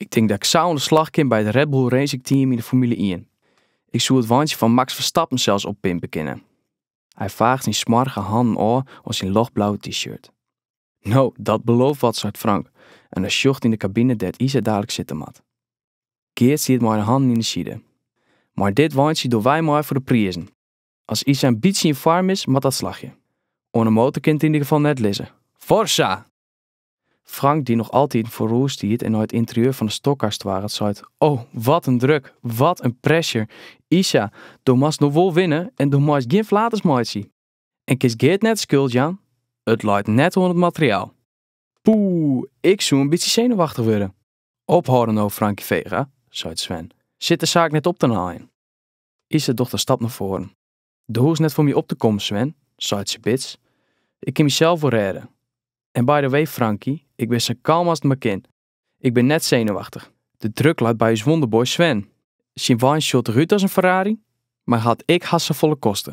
Ik tink dat ik sa oan de slach kin by it Red Bull Racing Team yn de Formule ien. Ik soe it weintsje fan Max Verstappen sels oppimpe kinne. Hy faacht syn smoarge hannen ôf oan syn ljochtblauwe t-shirt. No, dat belooft wat, seit Frank en hy sjocht yn de kabine dêr't Isa dadelik sitte moat. Geart stiet mei de hannen yn de side. Mei dit weintsje doe wy mei foar de prizen. As Isa in bytsje yn foarm is, moat dat slagje. Oan 'e motor kin it yn ider gefal net lizze. Forza! Frank, dy't noch altiten foaroer stiet en nei it ynterieur fan 'e stockcar stoarret, seit, O, wat in druk! Wat in pressure! Isa, do moatst no wol winne en do meist gjin flaters meitsje. En kinst Geart net de skuld jaan, it leit net oan it materiaal. Poeh, ik soe in bytsje senuwachtich wurde. Ophâlde no, Frankie Vega, seit Sven. Sit de saak net op te naaien. Isa docht in stap nei foaren. Do hoechst net foar my op te kommen, Sven, seit se bits. Ik kin mysels wol rêde. En by the way, Frankie, ik bin sa kalm as it mar kin. Ik bin net senuwachtich. De druk leit by ús wonderboy Sven. Syn wein sjocht der út as in Ferrari, mar hat ek hast safolle koste.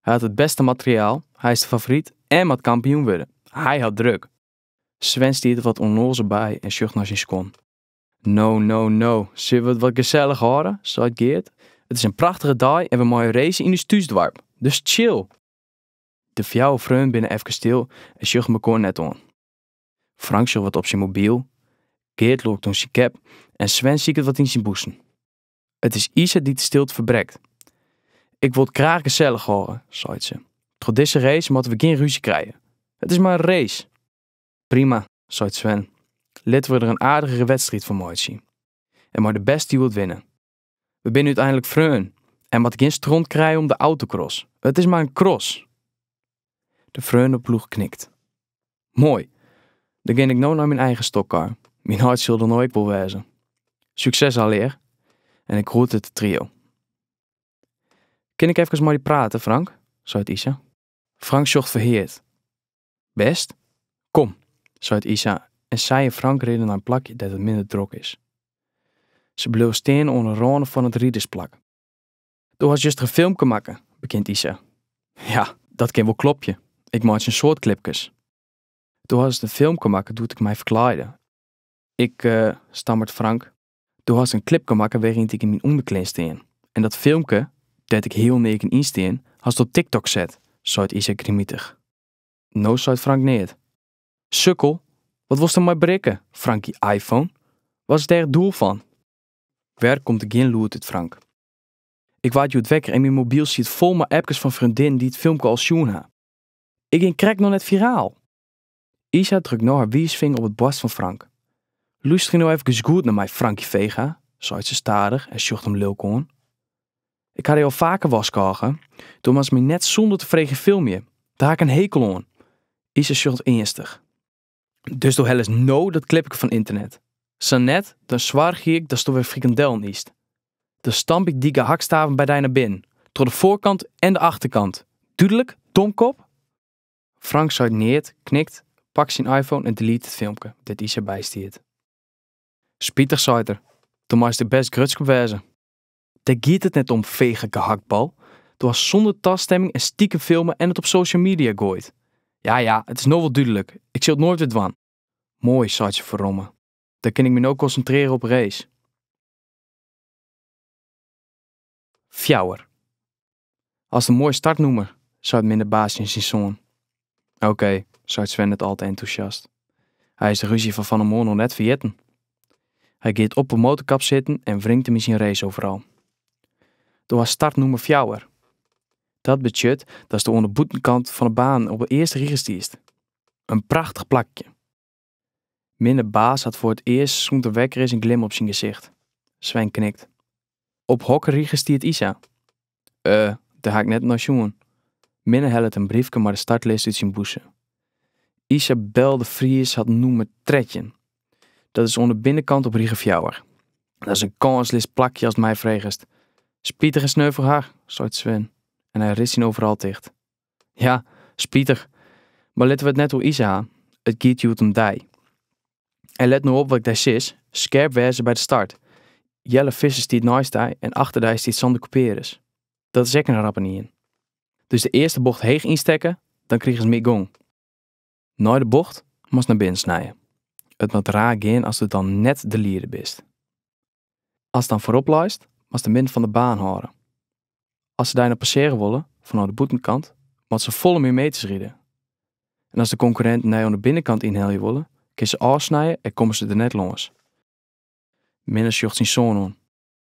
Hy hat it bêste materiaal, hy is de favoryt en moat kampioen wurde. Hy hat druk. Sven stiet der wat ûnnoazel by en sjocht nei syn skuon. No, sille we it wat gesellich hâlde, seit Geart. It is in prachtige dei en we meie race yn ús thúsdoarp, dus chill! De fjouwer freonen binne efkes stil en sjogge mekoar net oan. Frank sjocht wat op syn mobyl, Geart lûkt oan syn cap en Sven siket wat yn syn bûsen. It is Isa dy't de stilte ferbrekt. Ik wol it graach gesellich hâlde, seit se. Troch dizze race moatte we gjin rúzje krije. It is mar in race! Prima, seit Sven. Litte we der in aardigere wedstriid fan meitsje. En mei de bêste hjoed winne. We binne úteinlik freonen en moatte gjin stront krije om de autocross. It is mar in cross. De freoneploech knikt. Moai. Dan gean ik no nei myn eigen stockcar. Myn heit sil der no ek wol wêze. Sukses allegear. En ik groet it trio. Kin ik efkes mei dy prate, Frank? seit Isa. Frank sjocht ferheard. Bêst? Kom, seit Isa en sy en Frank rinne nei in plakje dêr't it minder drok is. Se bliuwe stean oan 'e râne fan it ridersplak. Do hast juster in filmke makke, begjint Isa. Ja, dat kin wol klopje, ik meitsje in soad klipkes. Do hast in filmke makke doe't ik my ferklaaide. Ik, stammeret Frank. Do hast in klipke makke wêryn't ik yn myn ûnderklean stean. En dat filmke, dêr't ik healneaken yn stean, hast op TikTok set, seit Isa grimitich. No seit Frank neat. Sukkel, wat wolst der mei berikke, Frankie iPhone? Wat is dêr it doel fan? Wer komt der gjin lûd út Frank. Ik waard hjoed wekker en myn mobyl siet fol mei appkes fan freondinnen dy't it filmke al sjoen ha. Ik gean krekt noch net viraal! Isa drukt no har wiisfinger op it boarst fan Frank. Lústerje no efkes goed nei my, Frankie Vega, seit se stadich en sjocht him lilk oan. Ik ha dy al faker warskôge. Do moatst my net sûnder te freegjen filmje. Dêr ha ik in hekel oan. Isa sjocht earnstich. Dus do helst no dat klipke fan ynternet. Sa net, dan soargje ik datsto wer frikandellen ytst. Dan stamp ik dy gehaktstaven by dy nei binnen, troch de foarkant en de achterkant. Dúdlik, domkop? Frank seit neat, knikt, pakt syn iPhone en delete it filmke dêr't Isa by stiet. Spitich, seit er, do meist der bêst grutsk op wêze. Dêr giet it net om, fege gehaktbal. Do hast sûnder tastemming en stikem filme en it op social media goaid. Ja, ja, it is no wol dúdlik, ik sil it noait wer dwaan. Moai, seit se ferromme, dan kin ik my no konsintrearje op 'e race. Fjouwer. Hast in moai startnûmer, seit Minne Baas tsjin syn soan. Oké, seit Sven net al te entûsjast. Hy is de rúzje fan fannemoarn noch net ferjitten. Hy giet op 'e motorkap sitten en wringt him yn syn race overal. Do hast startnûmer fjouwer. Dat betsjut datsto oan 'e bûtenkant fan 'e baan op 'e earste rige stiest. In prachtich plakje. Minne Baas hat foar it earst sûnt er wekker is in glim op syn gesicht. Sven knikt. Op hokker rige stiet Isa? Eh, dêr ha ik net nei sjoen. Minne hellet in briefke mei de startlist út syn bûse. Isabel de Vries hat nûmer trettjin. Dat is oan de binnenkant op rige fjouwer. Dat is in kânsleas plakje ast my fregest. Spitich en sneu foar har, seit Sven en hy ritst syn overal ticht. Ja, spitich, mar litte we it net oer Isa ha. It giet hjoed om dy. En let no op wat ik dy sis, skerp wêze by de start. Jelle Visser stiet neist dy en achter dy stiet Sander Couperus. Dat is ek in rappenien. Dus de earste bocht heech ynstekke, dan krigest mear gong. Nei de bocht moatst nei binnen snije. It moat raar gean asto dan net de lieder bist. Ast dan foarop leist, moatst de midden fan de baan hâlde. As se dy noch passearje wolle fanôf de bûtenkant, moatte se folle mear meters ride. En as de konkurrinten dy oan de binnenkant ynhelje wolle, kinst se ôfsnije en komme se der net lâns. Minne sjocht syn soan oan.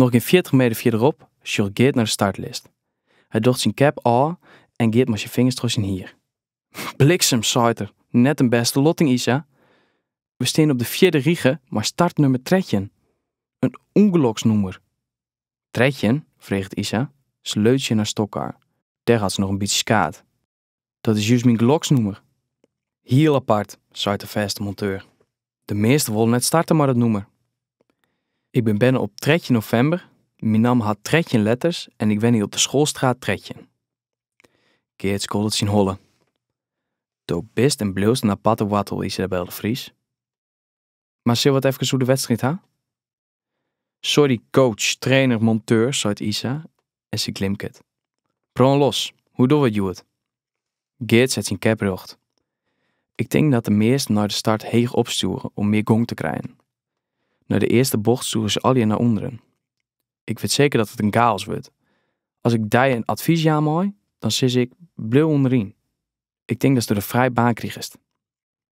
Noch gjin fjirtich meter fierderop sjocht Geart nei de startlist. Hy docht syn cap ôf en giet mei syn fingers troch syn hier. Bliksem, seit er, net in bêste lotting, Isa. We stean op de fjirde rige mei startnummer trettjin. In ûngeloksnûmer. Trettjin? freget Isa. Se leunt tsjin har stockcar. Dêr hat se noch in bytsje skaad. Dat is just myn geloksnûmer. Hiel apart, seit de fêste monteur. De measte wolle net starte mei dat nûmer. Ik bin berne op 13 novimber, myn namme hat 13 letters en ik wenje op de Schoolstraat 13. Geart skoddet syn holle. Do bist en bliuwst in aparte woartel, Isabel de Vries. Mar sille we it efkes oer de wedstriid ha? Sorry coach, trainer, monteur, seit Isa en sy glimket. Brân los, hoe dogge we it hjoed? Geart set syn kep rjocht. Ik tink dat de measten nei de start heech opstjoere om mear gong te krijen. Nei de earste bocht stjoere se allegear nei ûnderen. Ik wit seker dat it in gaos wurdt. As ik dy in advys jaan mei, dan sis ik, bliuw ûnderyn. Ik tink datsto dêr frij baan krigest.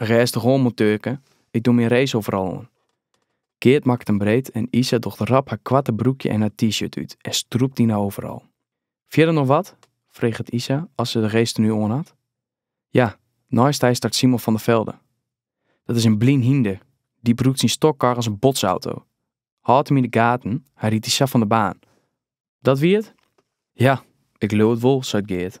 Rêstich oan monteurke, ik doch myn race-overall oan. Geart makket him breed en Isa docht rap har koarte broekje en har t-shirt út en strûpt yn har overall. Fierder noch wat? freget Isa as se de racetenue oan hat. Ja, neist dy start Simon van der Velde. Dat is in blyn hynder, dy brûkt syn stockcar as in botsauto. Hâld him yn de gaten, hy rydt dy sa fan de baan. Dat wie it? Ja, ik leau it wol, seit Geart.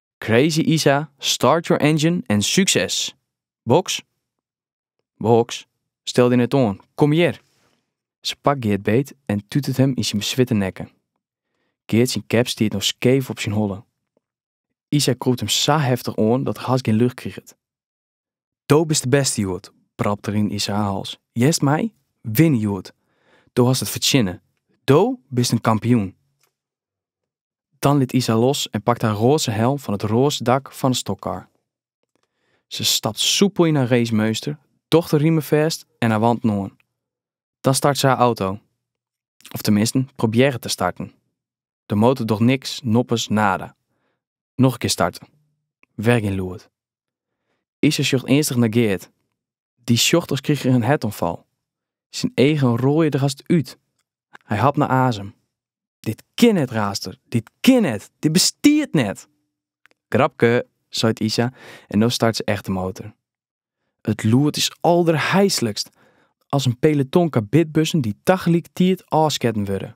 Crazy Isa, Start Your Engine en Succes. Boks? Boks, stel dy net oan, kom hjir. Se pakt Geart beet en tutet hem in syn beswitte nekke. Geart syn kep stiet no skeef op syn holle. Isa krûpt hem sa heftich oan dat er hast gjin lucht kriget. Do bist de bêste hjoed, brabbelt er yn Isa har hals. Hearst my, winne hjoed. Do hast it fertsjinne. Do bist in kampioen. Dan lit Isa los en pakt har roaze helm fan it roaze dak fan 'e stockcar. Se stapt soepel yn har racemeunster, docht de rimen fêst en har wanten oan. Dan start se har auto. Of teminsten, probearret te starten. De motor docht niks, noppes, nada. Noch in kear starten. Wer gjin lûd. Isa sjocht earnstich nei Geart. Dy sjocht as krige er in hertoanfal. Syn eagen rôlje der hast út. Hy hapt nei azem. Dit kin net, raast er. Dit kin net! Dit bestiet net! Grapke, seit Isa en no start se echt de motor. It lûd is alderheislikst. As in peloton karbidbussen dy't tagelikertiid ôfsketten wurde.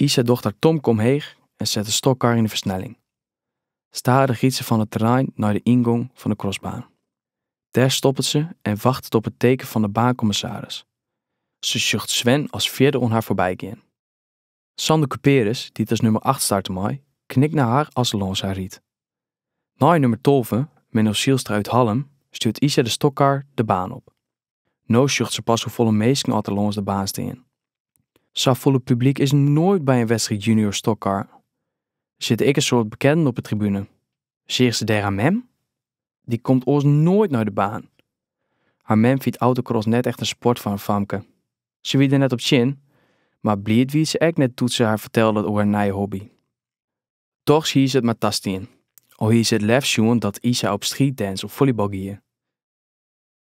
Isa docht har tomke omheech en set de stockcar yn de fersnelling. Stadich giet se fan it terrein nei de yngong fan de crossbaan. Dêr stoppet se en wachtet op it teken fan de baankommissaris. Se sjocht Sven as fjirde oan har foarby gean. Sander Cuperus, dy't as nummer acht starte mei, knikt nei har as er lâns har rydt. Nei nummer tolve, Menno Zijlstra út Hallum, stjoert Isa de stockcar de baan op. No sjocht se pas hoefolle minsken oft der lâns de baan stean. Safolle publyk is noait by in wedstriid junior stockcar. Der sitte ek in soad bekennen op de tribune. Seach se dêr har mem? Dy komt oars noait nei de baan. Har mem fynt autocross net echt in sport foar in famke. Se wie der net op tsjin, mar bliid wie se ek net doe't se har fertelde oer har nije hobby. Dochs hie se it mar tastien, al hie se it leafst sjoen dat Isa op streetdance of follybal gie.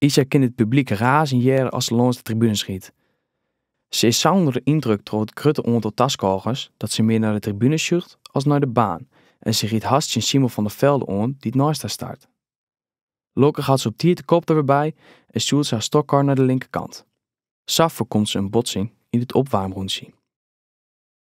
Isa kin it publyk razen hearre as se lâns de tribune sjit. Se is sa ûnder de yndruk troch it grutte oantal taskôgers dat se mear nei de tribune sjocht as nei de baan en se rydt hast tsjin Simon van der Velde oan dy't neist har start. Lokkich hat se op tiid de kop der wer by en stjoert se har stokkar nei de linkerkant. Sa foarkomt se in botsing yn it opwaarmrûntsje.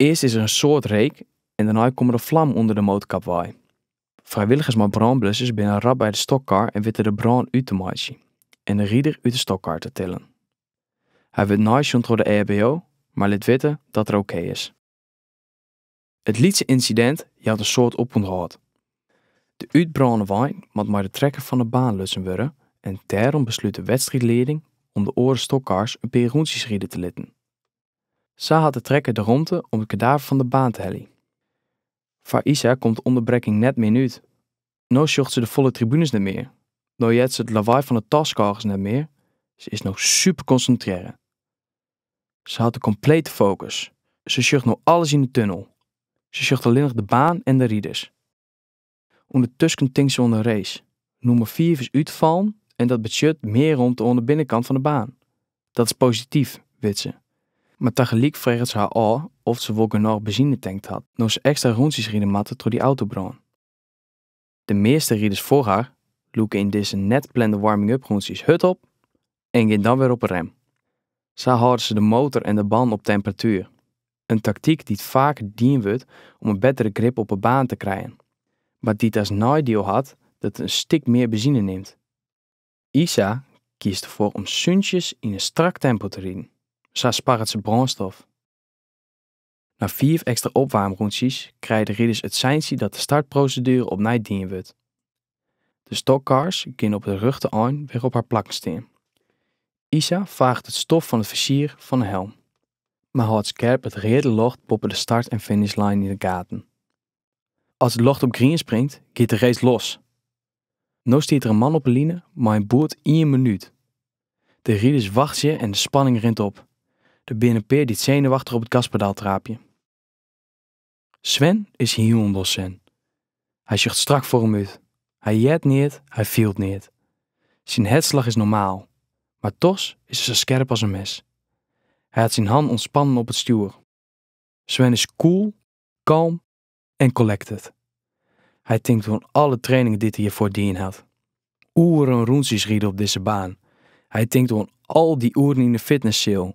Earst is der in soad reek en dêrnei komme der flammen ûnder de motorkap wei. Frijwilligers mei brânblussers binne rap by de stokkar en witte de brân út te meitsjen en de rider út de stokkar te tillen. Hy wurdt neisjoen troch de EHBO, mar lit witte dat er ok is. It lytse ynsidint jout in soad opûnthâld. De útbrâne wein moat mei de trekker fan 'e baan lutsen wurde en dêrom beslút de wedstriidleading om de oare stokkars in pear rûntsjes ride te litten. Sa hat de trekker de romte om it kedaver fan de baan te heljen. Foar Isa komt de ûnderbrekking net mear út. No sjocht se de folle tribunes net mear, no heart se it lawaai fan de taskôgers net mear, se is no superkonsintrearre. Se hat de komplete fokus, se sjocht no alles yn de tunnel, se sjocht allinnich de baan en de riders. Undertusken tinkt se oan de race. Nûmer fiif is útfallen en dat betsjut mear romte oan de binnenkant fan de baan. Dat is posityf, wit se. Mar tagelyk freget se har ôf oft se wol genôch benzine tankt hat, no se ekstra rûntsjes ride moatte troch dy autobrân. De measte riders foar har lûke yn dizze net plande warming-up rûntsjes hurd op en gean dan wer op 'e rem. Sa hâlde se de motor en de bannen op temperatuer. in taktyk dy't faker dien wurdt om in bettere grip op 'e baan te krijen, mar dy't as neidiel hat dat it in stik mear benzine nimt. Isa kiest derfoar om súntsjes yn in strak tempo te riden, sa sparret se brânstof. Nei fiif ekstra opwaarmrûntsjes krije de riders it seinsje dat de startproseduere opnij dien wurdt. De stokkars gean op it rjochte ein wer op har plakken stean. Isa faaget it stof fan it fizier fan 'e helm, mar hâldt skerp it reade ljocht boppe de start en finishline yn 'e gaten. As it ljocht op grien springt, giet de race los! No stiet der in man op 'e line mei in boerd ien minút. De riders wachtsje en de spanning rint op. Der binne in pear dy't senuwachtich op it gaspedaal traapje. Sven is hielendal sen. Hy sjocht strak foar him út. Hy heart neat, hy fielt neat. Syn hertslach is normaal, mar dochs is er sa skerp as in mes. Hy hat syn hannen ûntspannen op it stjoer. Sven is cool, kalm en collected. Hy tinkt oan alle trainingen dy't er hjirfoar dien hat. Oeren rûntsjes ride op dizze baan. Hy tinkt oan al dy oeren yn de fitnesseal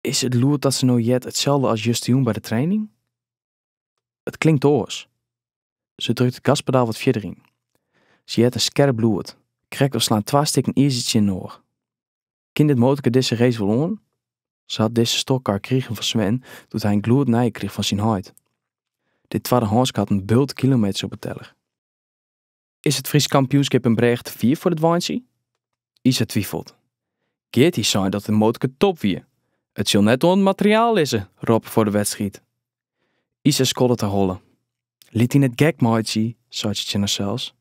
Is it lûd dat se no heart itselde as justejûn by de training? It klinkt oars. Se drukt it gaspedaal wat fierder yn. Se heart in skerp lûd, krekt of slaan twa stikken izer tsjininoar. Kin dit motorke dizze race wol oan? Se hat dizze stokkar krigen fan Sven doe't hy in glûdnije krige fan syn heit. Dit twaddehânske hat in bult kilometers op 'e teller. Is it Frysk kampioenskip in brêge te fier foar it weintsje? Isa twifelt. Geart hie sein dat it motorke top wie. It sil net oan it materiaal lizze, rôp er foar de wedstriid. Isa skoddet de holle. Lit dy net gek meitsje, seit se tsjin harsels.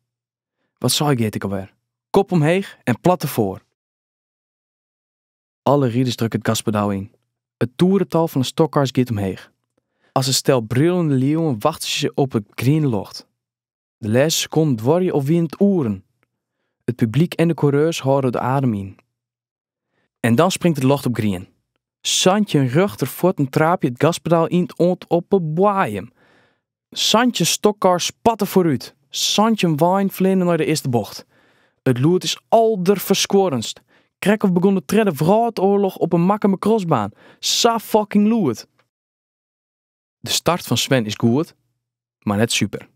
Wat sei Geart ek alwer? Kop omheech en plat derfoar? Alle riders drukke it gaspedal yn. It toerental fan de stokkars giet omheech. As in stel brullende liuwen wachtsje se op it griene ljocht. De lêste sekonden duorje of wiene it oeren. It publyk en de koereurs hâlde de adem yn. En dan springt it ljocht op grien. Santjin rjochterfuotten traapje it gaspedaal yn oant op 'e boaiem. Santjin stokkars spatte foarút. Santjin weinen fleane nei de earste bocht. It lûd is alderferskuorrenst. Krekt oft begjint de tredde wrâldoarloch op 'e Makkumer krosbaan. Sa fucking lûd! De start fan Sven is goed, mar net super.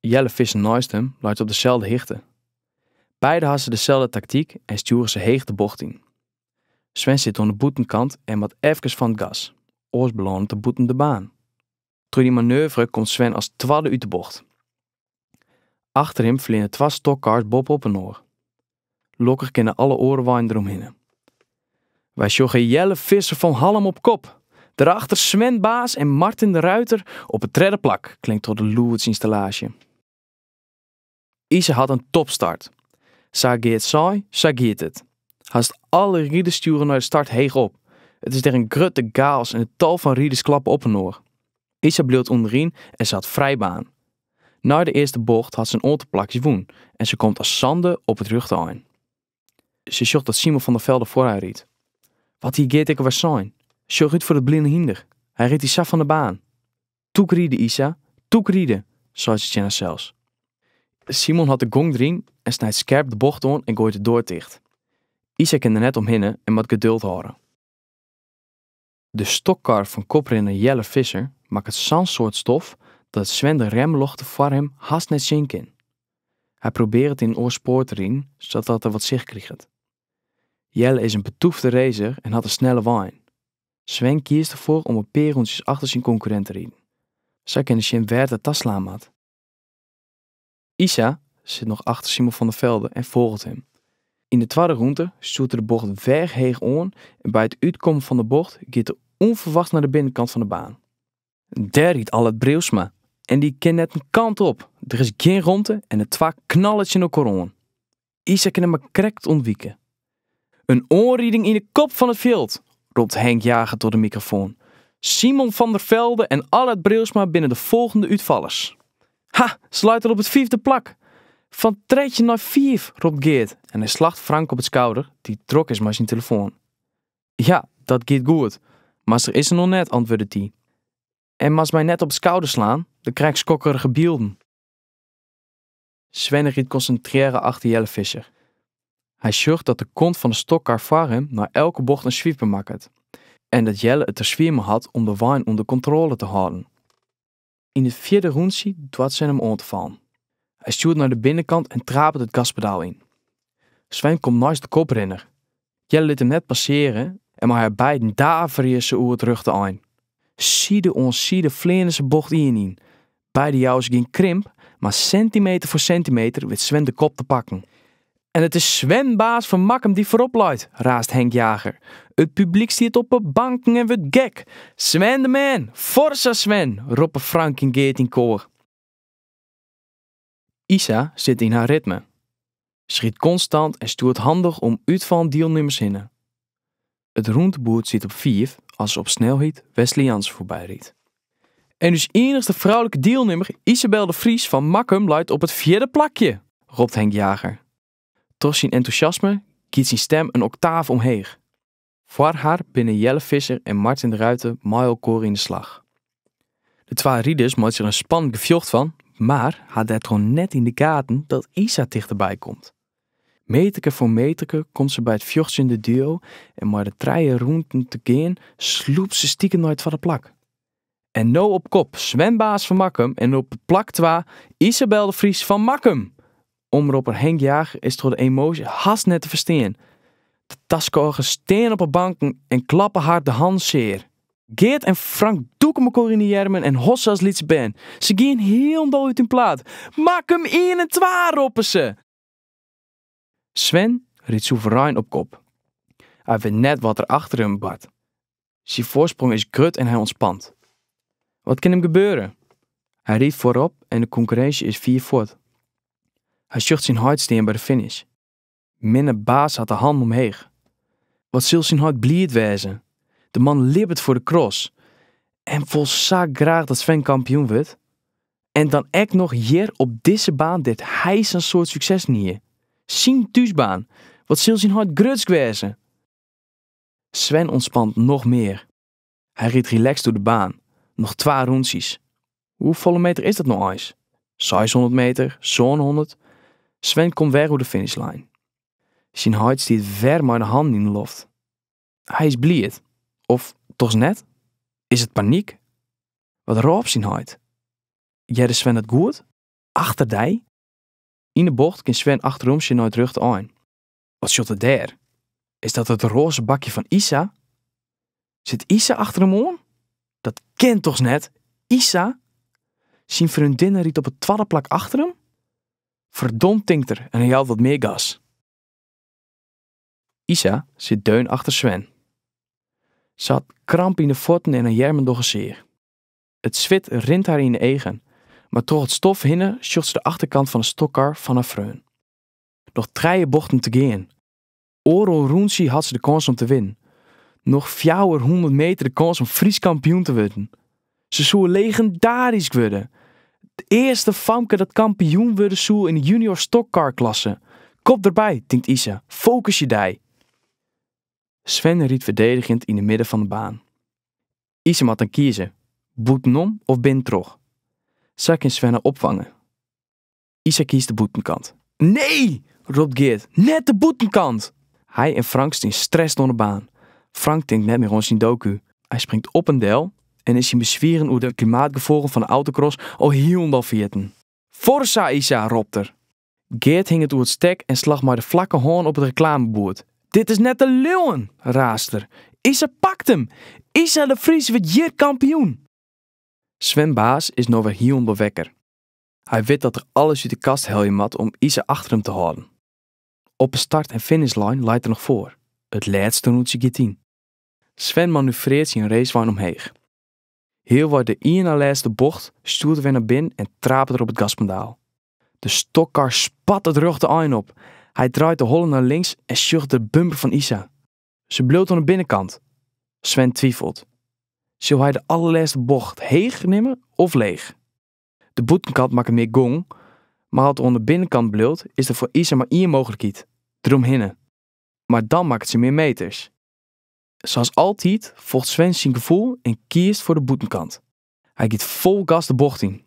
Jelle Visser neist him leit op deselde hichte. Beide ha se deselde taktyk en stjoere se heech de bocht yn. Sven sit oan de bûtenkant en moat efkes fan it gas, oars belânet er bûten de baan. Troch dy manoeuvre komt Sven as twadde út de bocht. Achter him fleane twa stokkars boppe-op inoar. Lokkich kinne alle oare weinen deromhinne. Wy sjogge Jelle Visser fan Hallum op kop. Dêrachter Sven Baas en Martin de Ruiter op it tredde plak, klinkt troch de lûdsinstallaasje. Isa hat in topstart. Sa Geart sei, sa giet it. Hast alle riders stjoere nei de start heech op. It is der in grutte gaos en in tal fan riders klappe op inoar. Isa bliuwt ûnderyn en se hat frij baan. Nei de earste bocht hat se in oantal plakjes wûn en se komt as sande op it rjochte ein. Se sjocht dat Simon van der Velde foar har rydt. Wat hie Geert ek alwer sein? Sjoch út foar dit bline hynder, hy rydt dy sa fan 'e baan. Tûk ride, Isa, tûk ride! seit se tsjin harsels. Simon hat de gong deryn en snijt skerp de bocht oan en gooit de doar ticht. Isa kin der net omhinne en moat geduld hâlde. De stokkar fan koprinner Jelle Visser makket sa'n soad stof dat Sven de remljochten foar him hast net sjen kin. Hy probearret yn in oar spoar te riden sadat er wat sicht kriget. Jelle is in betoefde racer en hat in snelle wein. Sven kiest derfoar om in pear rûntsjes achter syn konkurrint te riden. Sa kin er sjen wêr't er ta slaan moat. Isa sit noch achter Simon van der Velde en folget him. Yn de twadde rûnte stjoert er de bocht wer heech oan en by it útkommen fan de bocht giet er ûnferwachts nei de binnenkant fan de baan. Dêr rydt Allard Brijlsma en dy kin net in kant op. Der is gjin romte en de twa knalle tsjin. Isa kin him mar krekt ûntwike. In oanriding yn de kop fan it fjild! ropt Henk Jager troch de mikrofoan. Simon van der Velde en Allard Brijlsma binne de folgjende útfallers. Ha, se leit al op it fiifde plak! Fan trettjin nei fiif, ropt Geart en hy slacht Frank op it skouder, dy't drok is mei syn telefoan. Ja, dat giet goed, mar se is der noch net, antwurdet dy. En moatst my net op it skouder slaan, dan krijg ik skokkerige bylden. Sven rydt konsintrearre achter Jelle Visser. Hy sjocht dat de kont fan de stockcar foar him nei elke bocht in swiper makket en dat Jelle it der swier mei hat om de wein ûnder kontrôle te hâlden. Yn it fjirde rûntsje doart Sven him oan te fallen. Hy stjoert nei de binnenkant en trapet it gaspedaal yn. Sven komt neist de koprinner, Jelle lit him net passearje en mei har beiden daverje se oer it rjochte ein. Side oan side fleane se bocht ien yn. Beide jouwe se gjin krimp, mar sintimeter foar sintimeter wit Sven de kop te pakken. En it is Sven Baas fan Makkum, dy't foarop leit, raast Henk Jager. It publyk stiet op 'e banken en wurdt gek. Sven de man! Forza Sven! roppe Frank en Geart yn koar. Isa sit yn har ritme, rydt konstant en stjoert handich om útfallen dielnimmers hinne. It rûnteboerd stiet op fiif as se op snelheid Wesley Jansen foarby rydt. En ús iennichste froulike dielnimmer Isabel de Vries fan Makkum leit op it fjirde plakje! ropt Henk Jager. Troch syn entûsjasme giet syn stim in oktaaf omheech. Foar har binne Jelle Visser en Martin de Ruiter mei elkoar yn de slach. De twa riders meitsje der in spannend gefjocht fan, mar ha dêrtroch net yn de gaten dat Isa tichterby komt. Meterke foar meterke komt se by it fjochtsjende duo en mei noch trije rûnten te gean slûpt se stikem nei it twadde plak. En no op kop Sven Baas fan Makkum en op plak twa Isabel de Vries fan Makkum! Omropper Henk Jager is troch de emoasje hast net te ferstean. De taskôgers stean op 'e banken en klappe har de hannen sear. Geart en Frank dûke mekoar yn 'e earmen en hosse as lytse bern. Se gean hielendal út 'e plaat. Makkum ien en twa! roppe se. Sven rydt soeverein op kop. Hy wit net wat der achter him bart. Syn foarsprong is grut en hy ûntspant. Wat kin him gebeure? Hy rydt foarop en de konkurrinsje is fier fuort. Hy sjocht syn heit stean by de finish. Minne Baas hat de hannen omheech. Wat sil syn heit bliid wêze. De man libbet foar de cross en wol sa graach dat Sven kampioen wurdt. En dan ek noch hjir op dizze baan dêr't hy sa'n soad sukses hie. Syn thúsbaan, wat sil syn heit grutsk wêze? Sven ûntspant noch mear. Hy rydt relaxed oer de baan, noch twa rûntsjes. Hoefolle meter is dat no eins? Seishûndert meter, sânhûndert? Sven komt wer oer de finishline. Syn heit stiet wer mei de hannen yn de loft. Hy is bliid. Of toch net? Is it paniek? Wat rôp syn heit? Hearde Sven it goed? Achter dy? Yn de bocht kin Sven achteromsjen nei it rjochte ein. Wat sjocht er dêr? Is dat it roaze bakje fan Isa? Sit Isa achter him oan? Dat kin toch net? Isa? Syn freondinne rydt op it twadde plak achter him? Ferdomd tinkt er en hy jout wat mear gas. Isa sit deun achter Sven. Se hat kramp yn 'e fuotten en har earmen dogge sear. It swit rint har yn 'e eagen, mar troch it stof hinne sjocht se de achterkant fan 'e stockcar fan har freon. Noch trije bochten te gean. Oardel rûntsje hat se de kâns om te winnen. Noch fjouwerhûndert meter de kâns om Frysk kampioen te wurden. Se soe legendarysk wurde. It earste famke dat kampioen wurde soe yn de junior stockcar klasse. Kop derby, tinkt Isa. Fokusje dy. Sven rydt ferdedigjend yn de midden fan de baan. Isa moat dan kieze, bûtenom of binnentroch. Sa kin Sven har opfange. Isa kiest de bûtenkant. Nee! ropt Geart. Net de bûtenkant! Hy en Frank stean strest oan de baan. Frank tinkt net mear oan syn doku. Hy springt op en del en is syn beswieren oer de klimaatgefolgen fan de autocross al hielendal ferjitten. Forza Isa! ropt er. Geart hinget oer it stek en slacht mei de flakke hân op it reklameboerd. Dit is net te leauwen! raast er. Isa pakt him! Isa de Vries wurdt hjir kampioen! Sven Baas is no wer hielendal wekker. Hy wit dat er alles út de kast helje moat om Isa achter him te hâlden. Op 'e start en finishline leit er noch foar, it lêste rûntsje giet yn. Sven manoeuvrearret syn racewein omheech. Healwei de ien nei lêste bocht stjoert er wer nei binnen en trapet er op it gaspedaal. De stockkar spat it rjochte ein op. Hy draait de holle nei links en sjocht de bumper fan Isa. Se bliuwt oan 'e binnenkant. Sven twifelt. Sil hy de allerlêste bocht heech nimme of leech? De bûtenkant makket mear gong, mar as er oan de binnenkant bliuwt, is der foar Isa mar ien mooglikheid, deromhinne. Mar dan makket se mear meters. Sa's altyd folgt Sven syn gefoel en kiest foar de bûtenkant. Hy giet fol gas de bocht yn.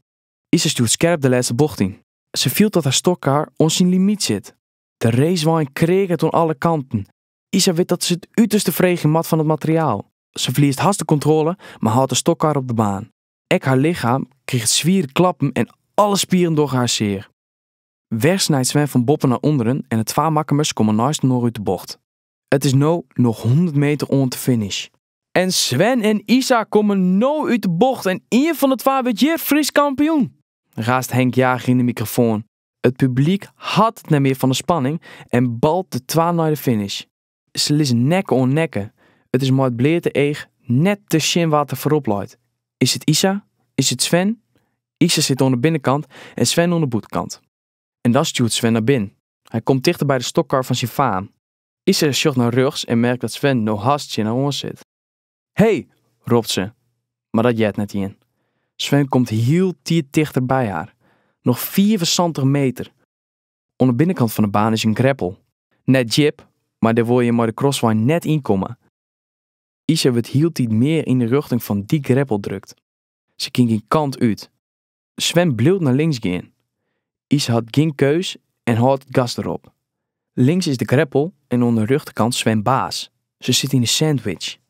Isa stjoert skerp de lêste bocht yn. Se fielt dat har stockcar oan syn limyt sit. De racewein kreaget oan alle kanten. Isa wit dat se it uterste freegje moat fan it materiaal. Se ferliest hast de kontroale, mar hâldt de stockcar op de baan. Ek har lichem kriget swiere klappen en alle spieren dogge har sear. Wer snijt Sven fan boppen nei ûnderen en de twa makkemers komme neistinoar út de bocht. It is no noch hûndert meter oant de finish. En Sven en Isa komme no út de bocht en ien fan de twa wurdt hjir Frysk kampioen! raast Henk Jager yn de mikrofoan. It publyk hat it net mear fan de spanning en balt de twa nei de finish. Se lizzen nekke oan nekke. It is mei it bleate each net te sjen wa't der foarop leit. Is it Isa? Is it Sven? Isa sit oan de binnenkant en Sven oan de bûtenkant. En dan stjoert Sven nei binnen. Hy komt tichter by de stokkar fan syn faam. Isa sjocht nei rjochts en merkt dat Sven no hast tsjin har oan sit. Hey! ropt se, mar dat heart net ien. Sven komt hieltiid tichter by har. Noch fiifensantich meter. Oan de binnenkant fan de baan is in greppel. Net djip, mar dêr wol je mei de crosswein net yn komme. Isa wurdt hieltyd mear yn de rjochting fan dy greppel drukt. Se kin gjin kant út. Sven bliuwt nei links gean. Isa hat gjin keus en hâldt it gas derop. Links is de greppel en oan de rjochterkant Sven Baas. Se sit yn 'e sandwich.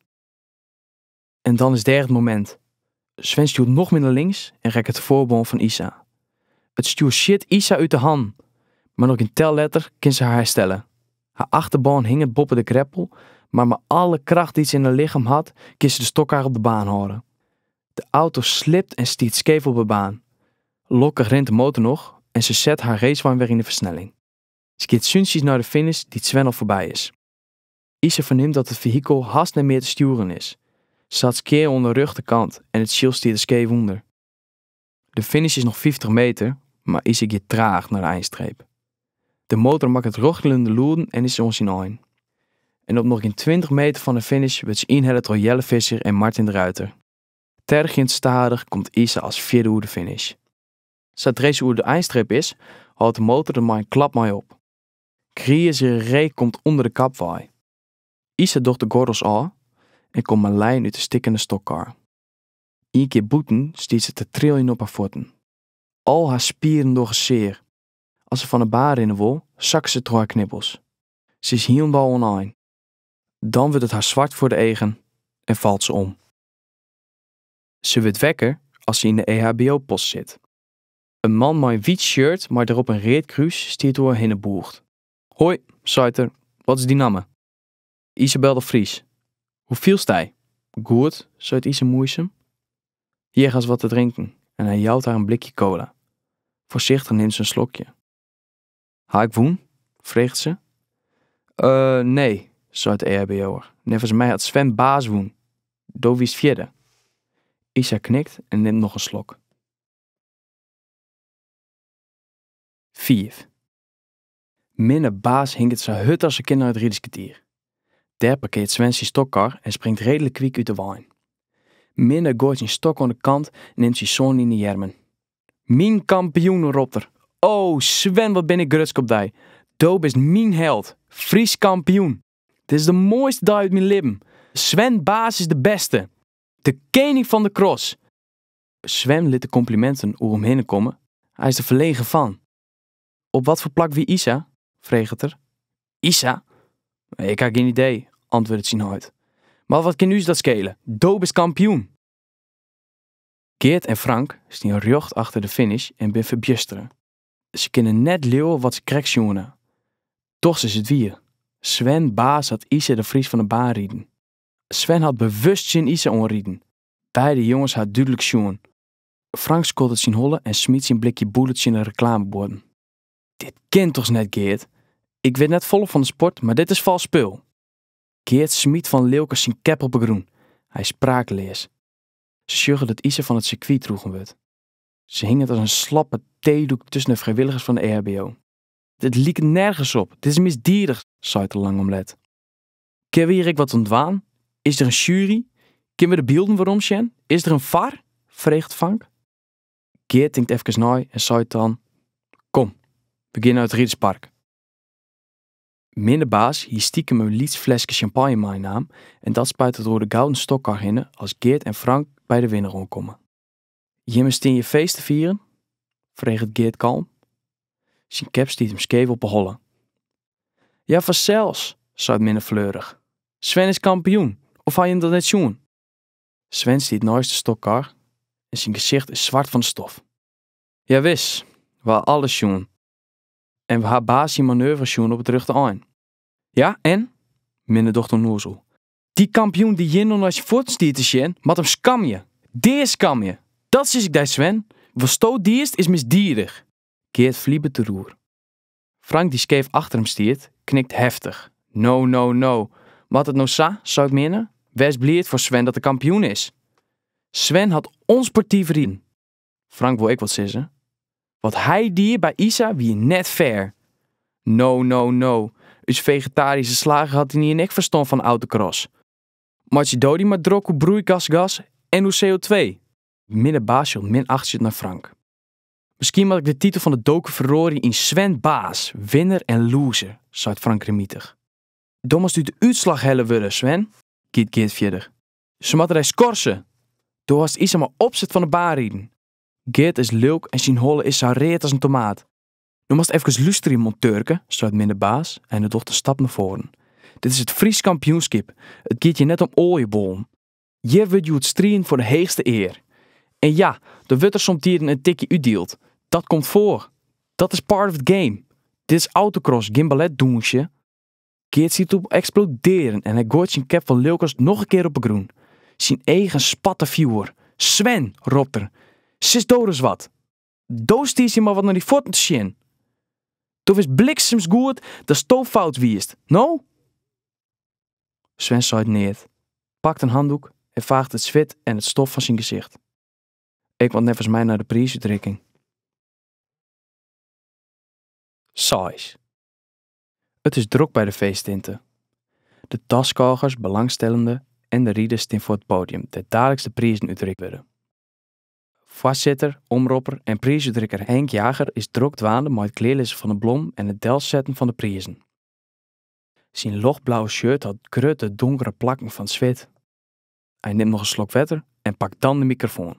En dan is dêr it momint. Sven stjoert noch mear nei links en rekket de foarbân fan Isa. It stjoer sjit Isa út de hannen, mar noch gjin tel letter kin se har herstelle. Har achterbân hinget boppe de greppel, mar mei alle kracht dy't se yn har lichem hat, kin se de stokkar op de baan hâlde. De auto slipt en stiet skeef op de baan. Lokkich rint de motor noch en se set har racewein wer yn de fersnelling. Se giet súntsjes nei de finish dy't Sven al foarby is. Isa fernimt dat it fehikel hast net mear te stjoeren is. Se hat skea oan de rjochterkant en it tsjil stiet der skeef ûnder. De finish is noch fyftich meter, mar Isa giet traach nei de einstreep. De motor makket rochelende lûden en is oan syn ein. En op noch gjin tweintich meter fan de finish wurdt se ynhelle troch Jelle Visser en Martin de Ruiter. Tergjend stadich komt Isa as fjirde oer de finish. Sadra se oer de einstreep is, hâldt de motor der mei in klap mei op. Grize reek komt ûnder de kap wei. Isa docht de gordels ôf en komt mei lijen út de stikkende stokkar. Ien kear bûten stiet se te triljen op har fuotten. Al har spieren dogge sear. As se fan 'e baan rinne wol, sakket se troch har knibbels. Se is hielendal oan ein. Dan wurdt it har swart foar de eagen en falt se om. Se wurdt wekker as se yn de EHBO-post sit. In man mei in wyt shirt mei derop in read krús stiet oer hinne bûgd. Hoi, seit er, wat is dyn namme? Isabel de Vries. Hoe fielst dy? Goed, seit Isa moaisum. Hjir hast wat te drinken en hy jout har in blikje cola. Foarsichtich nimt se in slokje. Ha ik wûn? freget se. Eh, nee, seit de EHBO'er. Neffens my hat Sven Baas wûn. Do wiest fjirde. Isa knikt en nimt noch in slok. Fiif. Minne Baas hinket sa hurd as er kin nei it riderskertier. Dêr parkearret Sven syn stokkar en springt redlik kwyk út de wein. Minne goait syn stok oan de kant en nimt syn soan yn 'e earmen. Myn kampioen! ropt er. O, Sven, wat bin ik grutsk op dy! Do bist myn held! Frysk kampioen! Dit is de moaiste dei út myn libben! Sven Baas is de bêste! De kening fan de cross! Sven lit de kompliminten oer him hinne komme, hy is der ferlegen fan. Op wat foar plak wie Isa? freget er. Isa? Ik ha gjin idee, antwurdet syn heit. Mar wat kin ús dat skele, do bist kampioen! Geart en Frank stean rjocht achter de finish en binne ferbjustere. Se kinne net leauwe wat se krekt sjoen ha. Dochs is it wier, Sven Baas hat Isa de Vries fan 'e baan riden. Sven hat bewust tsjin Isa oanriden, Beide jonges ha it dúdlik sjoen. Frank skoddet syn holle en smyt syn blikje Bullit tsjin de reklamebuorden. Dit kin dochs net, Geart? Ik wit net folle fan de sport, mar dit is fals spul! Geart smyt fan lilkens syn kep op 'e grûn. Hy is spraakleas. Se sjogge dat Isa fan it sirkwy droegen wurdt. Se hinget as in slappe teedoek tusken de frijwilligers fan de EHBO. Dit liket nergens op! Dit is misdiedich! seit er lang om let. Kinne we hjir ek wat oan dwaan? Is der in sjuery? Kinne we de bylden weromsjen? Is der in VAR? freget Frank. Geart tinkt efkes nei en seit dan, Kom, we geane nei it riderspark. Minne Baas hie stikem in lyts fleske sjampanje meinaam en dat spuitet er oer de gouden stokkar hinne as Geart en Frank by de winner oankomme. Jimme stean hjir feest te fieren? freget Geart kalm. Syn kep stiet him skeef op 'e holle. Ja, fansels, seit Minne fleurich. Sven is kampioen, of ha jim dat net sjoen? Sven stiet neist de stokkar en syn gesicht is swart fan de stof. Ja, wis, wy ha alles sjoen. En wy ha Baas syn manoeuvre sjoen op it rjochte ein. Ja, en? Minne docht ûnnoazel. Dy kampioen dy't hjir no nei syn fuotten stiet te sjen, moat him skamje! Dea skamje! Dat sis ik dy, Sven! Watsto diest is misdiedich! Geart flibet deroer. Frank dy't skeef achter him stiet, knikt heftich. No, no, no! Moat it no sa? seit Minne. Wês bliid foar Sven dat er kampioen is! Sven hat ûnsportyf riden! Frank wol ek wat sizze. Wat hy die by Isa wie net fair. No, no, no. Us fegetaryske slager hat ynienen ek ferstân fan autocross. Meitsje do dy mar drok oer broeigasgas en oer CO2. Minne Baas sjocht minachtsjend nei Frank. Miskien moat ik de titel fan de doku feroarje yn Sven Baas, winner en loser, seit Frank grimmitich. Do moatst út de útslach helle wurde, Sven, giet Geart fierder. Se moatte dy skorse! Do hast Isa mei opset fan 'e baan riden. Geart is lilk en syn holle is sa read as in tomaat. No moatst efkes lústerje, monteurke, seit Minne Baas en hy docht in stap nei foaren. Dit is it Frysk kampioenskip, it giet hjir net om oaljebollen. Hjir wurdt hjoed striden foar de heechste ear. En ja, der wurdt der somtiden in tikje útdield. Dat komt foar. Dat is part of the game. Dit is autocross, gjin balletdûnsje. Geart stiet op eksplodearjen en hy gooit syn cap fan lilkens noch in kear op 'e grûn. Syn eagen spatte fjoer. Sven! ropt er. Sis do ris wat! Do stiest hjir mar wat nei dyn fuotten te sjen! Do witst bliksems goed datsto fout wiest. No? Sven seit neat, pakt in handdoek en faacht it swit en it stof fan syn gesicht. Ik moat neffens my nei de priisútrikking. Seis. It is drok by de feesttinte. De taskôgers, belangstellenden en de riders stean foar it podium dêr't daliks de prizen útrikt wurde. Foarsitter, omropper en priisútrikker Henk Jager is drok dwaande mei it klearlizzen fan de blommen en it delsetten fan de prizen. Syn ljochtblauwe shirt hat grutte donkere plakken fan swit. Hy nimt noch in slok wetter en pakt dan de mikrofoan.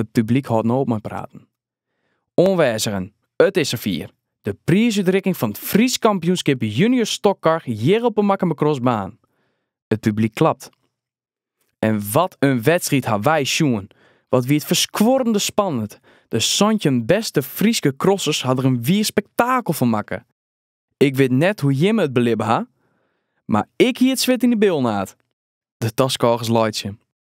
It publyk hâldt no op mei praten. Oanwêzigen, it is safier! De priisútrikking fan it Frysk Kampioenskip Junior Stockcar hjir op 'e Makkumer crossbaan. It publyk klapt. En wat in wedstriid ha wy sjoen! Wat wie it ferskuorrende spannend! De santjin bêste Fryske crossers ha der in wier spektakel fan makke. Ik wit net hoe jimme it belibbe ha, mar ik hie it swit yn 'e bilnaad! De taskôgers laitsje.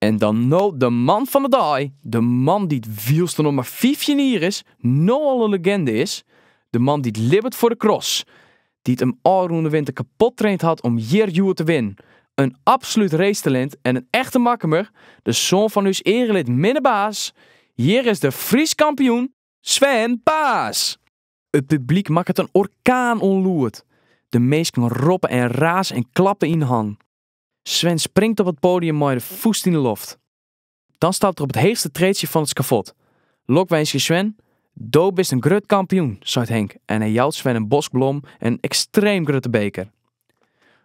En dan no de man fan 'e dei, de man dy't wylst er noch mar fyftjin jier is, no al in leginde is, de man dy't libbet foar de cross, dy't him ôfrûne winter kapot traind hat om hjir hjoed te winnen, in absolút racetalint en in echte Makkumer, de soan fan ús earelid Minne Baas, hjir is de Frysk kampioen, Sven Baas! It publyk makket in orkaan oan lûd, de minsken roppe en raze en klappe yn 'e hannen. Sven springt op it podium mei de fûst yn de loft. Dan stapt er op it heechste treetsje fan it skafot. Lokwinskje Sven, do bist in grut kampioen, seit Henk en hy jout Sven in bosk blommen en in ekstreem grutte beker.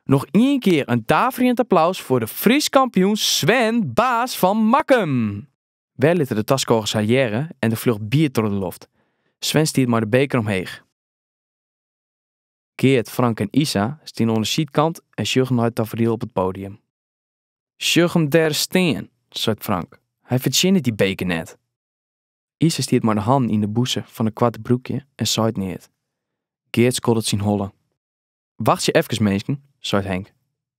Noch ien kear in daverjend applaus foar de Frysk kampioen Sven Baas fan Makkum! Wer litte de taskôgers har hearre en der fljocht bier troch de loft. Sven stiet mei de beker omheech. Geart, Frank en Isa stean oan 'e sydkant en sjogge nei it taferiel op it podium. Sjoch him dêr stean, seit Frank. Hy fertsjinnet dy beker net. Isa stiet mei de hannen yn 'e bûse fan it koarte broekje en seit neat. Geart skoddet syn holle. Wachtsje efkes, minsken, seit Henk.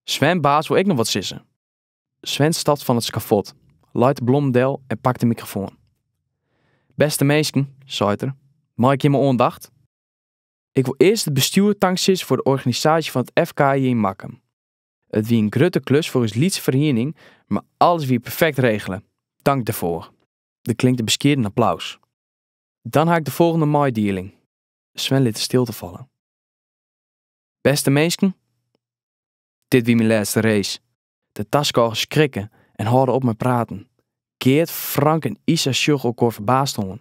Sven Baas wol ek noch wat sizze. Sven stapt fan it skafot, leit de blommen del en pakt de mikrofoan. Bêste minsken, seit er, mei ik jimme oandacht? Ik wol earst it bestjoer tanksizze foar de organisaasje fan it FK yn Makkum. It wie in grutte klus foar ús lytse feriening, mar alles wie perfekt regele. Tank derfoar. Der klinkt in beskieden applaus. Dan ha ik de folgjende meidieling. Sven lit de stilte falle. Bêste minsken, dit wie myn lêste race. De taskôgers skrikke en hâlde op mei praten. Geart, Frank en Isa sjogge elkoar ferbaasd oan.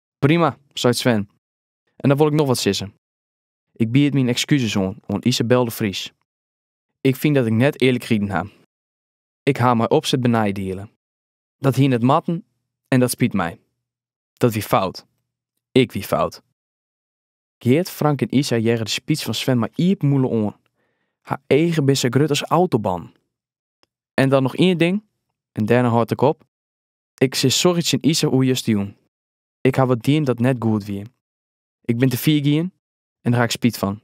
Prima, seit Sven. En dan wol ik noch wat sizze. Ik bied myn ekskuses oan oan Isabel de Vries. Ik fyn dat ik net earlik riden ha. Ik ha mei opset beneidiele. Dat hie net moatten en dat spyt my. Dat wie fout. Ik wie fout. Geart, Frank en Isa hearre de spyts fan Sven mei iepen mûle oan. Har eagen binne sa grut as autobannen. En dan noch ien ding, en dêrnei hâld ik op. Ik sis sorry tsjin Isa oer justerjûn. Ik haw wat dien dat net goed wie. Ik bin te fier gien en dêr ha ik spyt fan.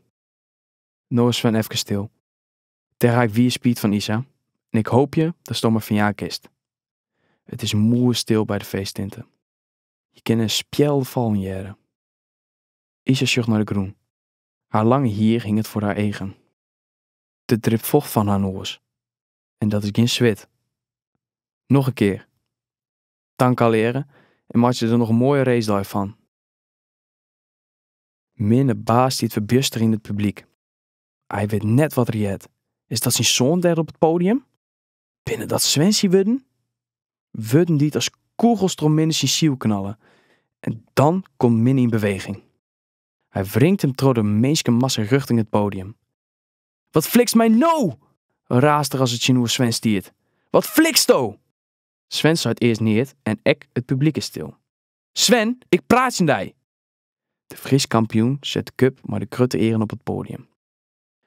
No is Sven efkes stil. Dêr ha ik wier spyt fan Isa en ik hoopje datsto my ferjaan kinst. It is moai stil by de feesttinte. Je kinne in spjelde fallen hearre. Isa sjocht nei de grûn. Har lange hier hinget foar har eagen. Der dript focht fan har noas. en dat is gjin swit. Noch in kear. Tank allegearre en meitsje der noch in moaie racedei fan. Minne Baas stiet ferbjuster yn it publyk. Hy wit net wat er heart. Is dat syn soan dêr op it podium? Binne dat Sven syn wurden? Wurden dy't as kûgels troch Minne syn siel knalle. En dan komt Minne yn beweging. Hy wringt him troch de minskemassa rjochting it podium. Wat flikst my no? raast er as it tsjinoer Sven stiet. Wat fliksto? Sven seit earst neat en ek it publiek is stil. Sven, ik praat tsjin dy! De Frysk kampioen set de kup mei de grutte earen op it poadium.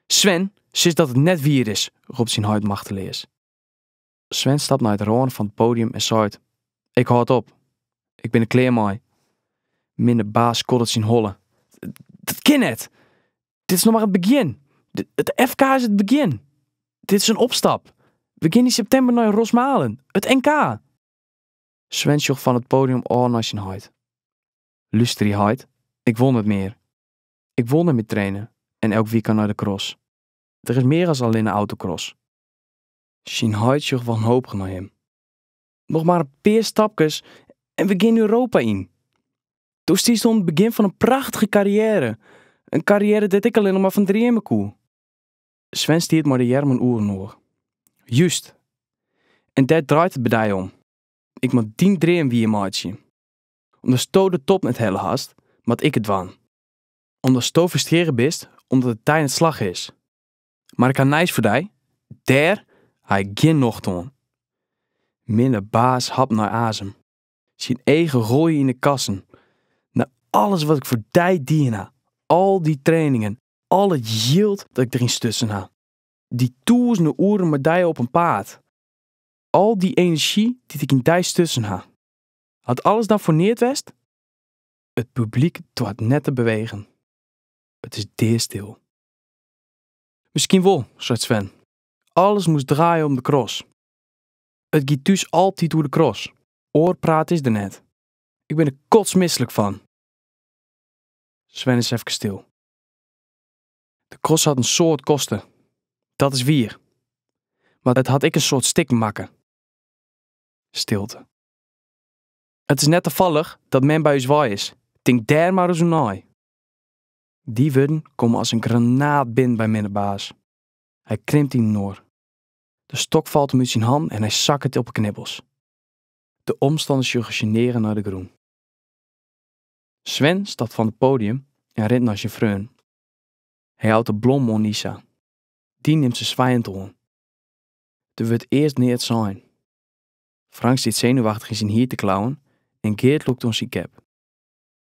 Sven, sis dat it net wier is, ropt syn heit machteleas. Sven stapt nei de râne fan it podium en seit, Ik hâld op. Ik bin der klear mei. Minne baas skoddet syn holle. Dat kin net! Dit is noch mar it begjin. It FK is it begjin. Dit is in opstap. We gean yn septimber nei Rosmalen. It NK! Sven sjocht fan it podium ôf nei syn heit. Lusterje heit, ik wol net mear. Ik wol net mear traine en elk wykein nei de cross. Der is mear as allinne autocross. Syn heit sjocht wanhopich nei him. Noch mar in pear stapkes en we gean Europa yn. Do stiest oan it begjin fan in prachtige karriêre. In karriêre dêr't ik allinnich mar fan dreame koe. Sven stiet mei de earmen oer inoar. Just! En dêr draait it by dy om. Ik moat dyn dream wiermeitsje. Omdat sto de top net helle hast, moat ik it dwaan. Omdat sto frustrearre bist omdat it dy net slagge is. Mar ik ha nijs foar dy, dêr ha ik gjin nocht oan. Minne baas hapt nei azem. Syn eagen rolje yn 'e kassen. Nei alles wat ik foar dy dien ha, al dy trainingen, al it jild dat ik deryn stutsen ha, dy tûzenen oeren mei dy op in paad, al dy enerzjy dy't ik yn dy stutsen ha. Hat alles dan foar neat west? It publyk doart net te bewegen. It is deastil. Miskien wol, seit Sven. Alles moast draaie om de cross. It giet thús altyd oer de cross. Oar praat is der net. Ik bin der kotsmislik fan. Sven is efkes stil. De cross hat in soad koste. Dat is wier. Mar it hat ek in soad stikken makke. Stilte. It is net tafallich dat mem by ús wei is. Tink dêr mar ris oer nei. Dy wurden komme as in granaat binnen by Minne baas. Hy krimpt yninoar. De stok falt him út syn hannen en hy sakket op 'e knibbels. De omstanners sjogge sjenearre nei de grûn. Sven stapt fan it poadium en rint nei syn freonen. Hy jout de blom oan Isa. Dy nimt se swijend oan. Der wurdt earst neat sein. Frank stiet senuwachtich yn syn hier te klauwen en Geart lûkt oan syn kep.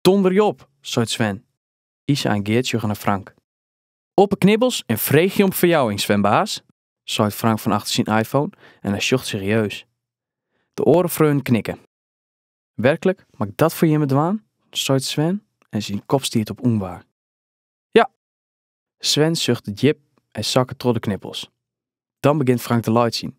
Donderje op, seit Sven. Isa en Geart sjogge nei Frank. Op 'e knibbels en freegje om ferjouwing, Sven baas, seit Frank fan achter syn iPhone en hy sjocht serieus. De oare freonen knikke. Werklik, moat ik dat foar jimme dwaan? seit Sven en syn kop stiet op ûnwaar. Ja! Sven suchtet djip en sakket troch de knibbels. Dan begint Frank te laitsjen.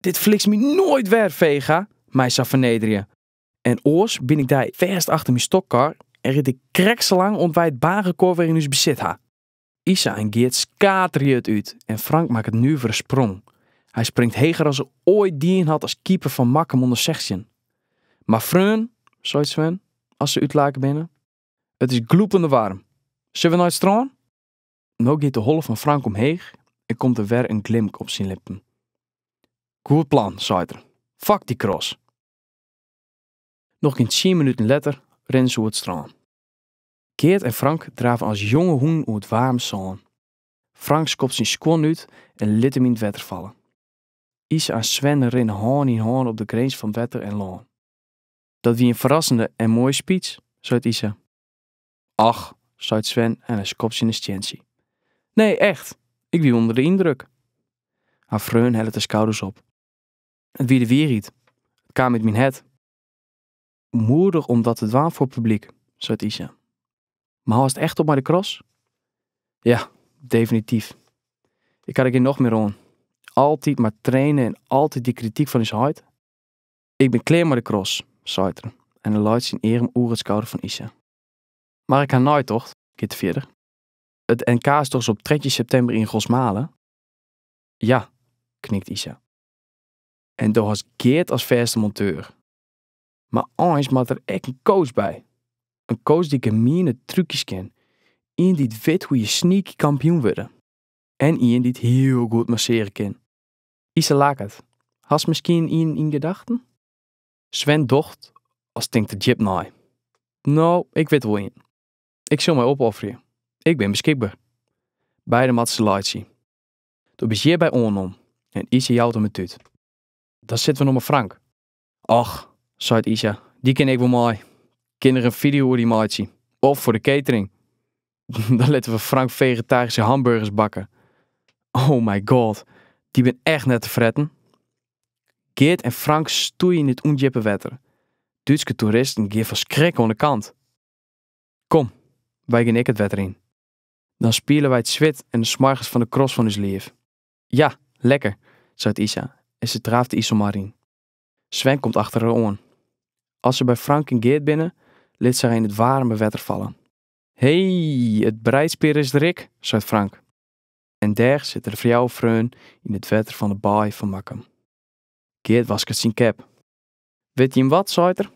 Dit flikst my noait wer, Vega, my sa fernederje. En oars byn ik dy fêst achter myn stockcar en ryd ik krekt sa lang oant wy it baanrekôr wer yn ús besit ha. Isa en Geart skaterje it út en Frank makket in nuvere sprong. Hy springt heger as er oait dien hat as keeper fan Makkum ûnder sechstjin. Mar freon, seit Sven, as se útlake binne, it is glûpende waarm. Sille we nei it strân? No giet de holle fan Frank omheech en komt der wer in glimk op syn lippen. Goed plan, seit er. Fuck dy cross! Noch gjin tsien minuten letter rinne se oer it strân. Geart en Frank drave as jonge hûnen oer it waarme sân. Frank skopt syn skuon út en lit him yn it wetter falle. Isa en Sven rinne hân yn hân op de grins fan wetter en lân. Dat wie in ferrassende en moaie speech, seit Isa. Och, seit Sven en hy skopt tsjin in stientsje. Nee, echt. Ik wie ûnder de yndruk. Har freon hellet de skouders op. It wie de wierheid. It kaam út myn hert. Moedich om dat te dwaan foar it publyk, seit Isa. Mar hâldst echt op mei de cross? Ja, definityf. Ik ha der gjin nocht mear oan. Altyd mar trainen en altyd dy krityk fan ús heit. Ik bin klear mei de cross, seit er en hy leit syn earm oer it skouder fan Isa. Mar ik ha neitocht, giet er fierder. It NK is dochs op trije septimber yn Rosmalen? Ja, knikt Isa. En do hast Geart as fêste monteur. Mar eins moat der ek in coach by. In coach dy't gemiene trúkjes kin. Ien dy't wit hoe je sneaky kampioen wurde. En ien dy't hiel goed massearje kin. Isa laket. Hast miskien ien yn gedachten? Sven docht as tinkt er djip nei. No, ik wit der wol ien. Ik sil my opofferje. Ik bin beskikber. Beide moatte se laitsje. Do bist hjirby oannommen en Isa jout him in tút. Dan sitte we noch mei Frank. Och, seit Isa, dy kin ek wol mei. Kin er in fideo oer dy meitsje. Of foar de catering. Dan litte we Frank vegetaryske hamburgers bakke. Oh my god, dy bin echt net te fretten. Geart en Frank stoeie yn it ûndjippe wetter. Dútske toeristen gean fan skrik oan de kant. Kom, wy gean ek it wetter yn. Dan spiele wy it swit en de smoargens fan de cross fan ús liif. Ja, lekker, seit Isa en se draaft de Iselmar yn. Sven komt achter har oan. As se by Frank en Geert binne, lit se har yn it waarme wetter falle. Hey, it breidspear is der ek, seit Frank. En dêr sitte de fjouwer freonen yn it wetter fan de baai fan Makkum. Geert wasket syn cap. Witte jim wat, seit er,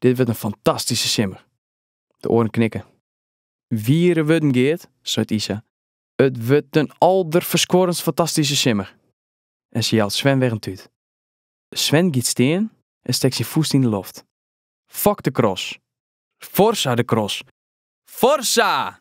dit wurdt in fantastyske simmer. De oaren knikke. Wiere wurden, Geert, seit Isa. It wurdt in alderferskuorrendst fantastyske simmer. En sy jout Sven wer in tút. Sven giet stean en stekt syn fûst yn de loft. Fok de cross! Forza de cross! Forza!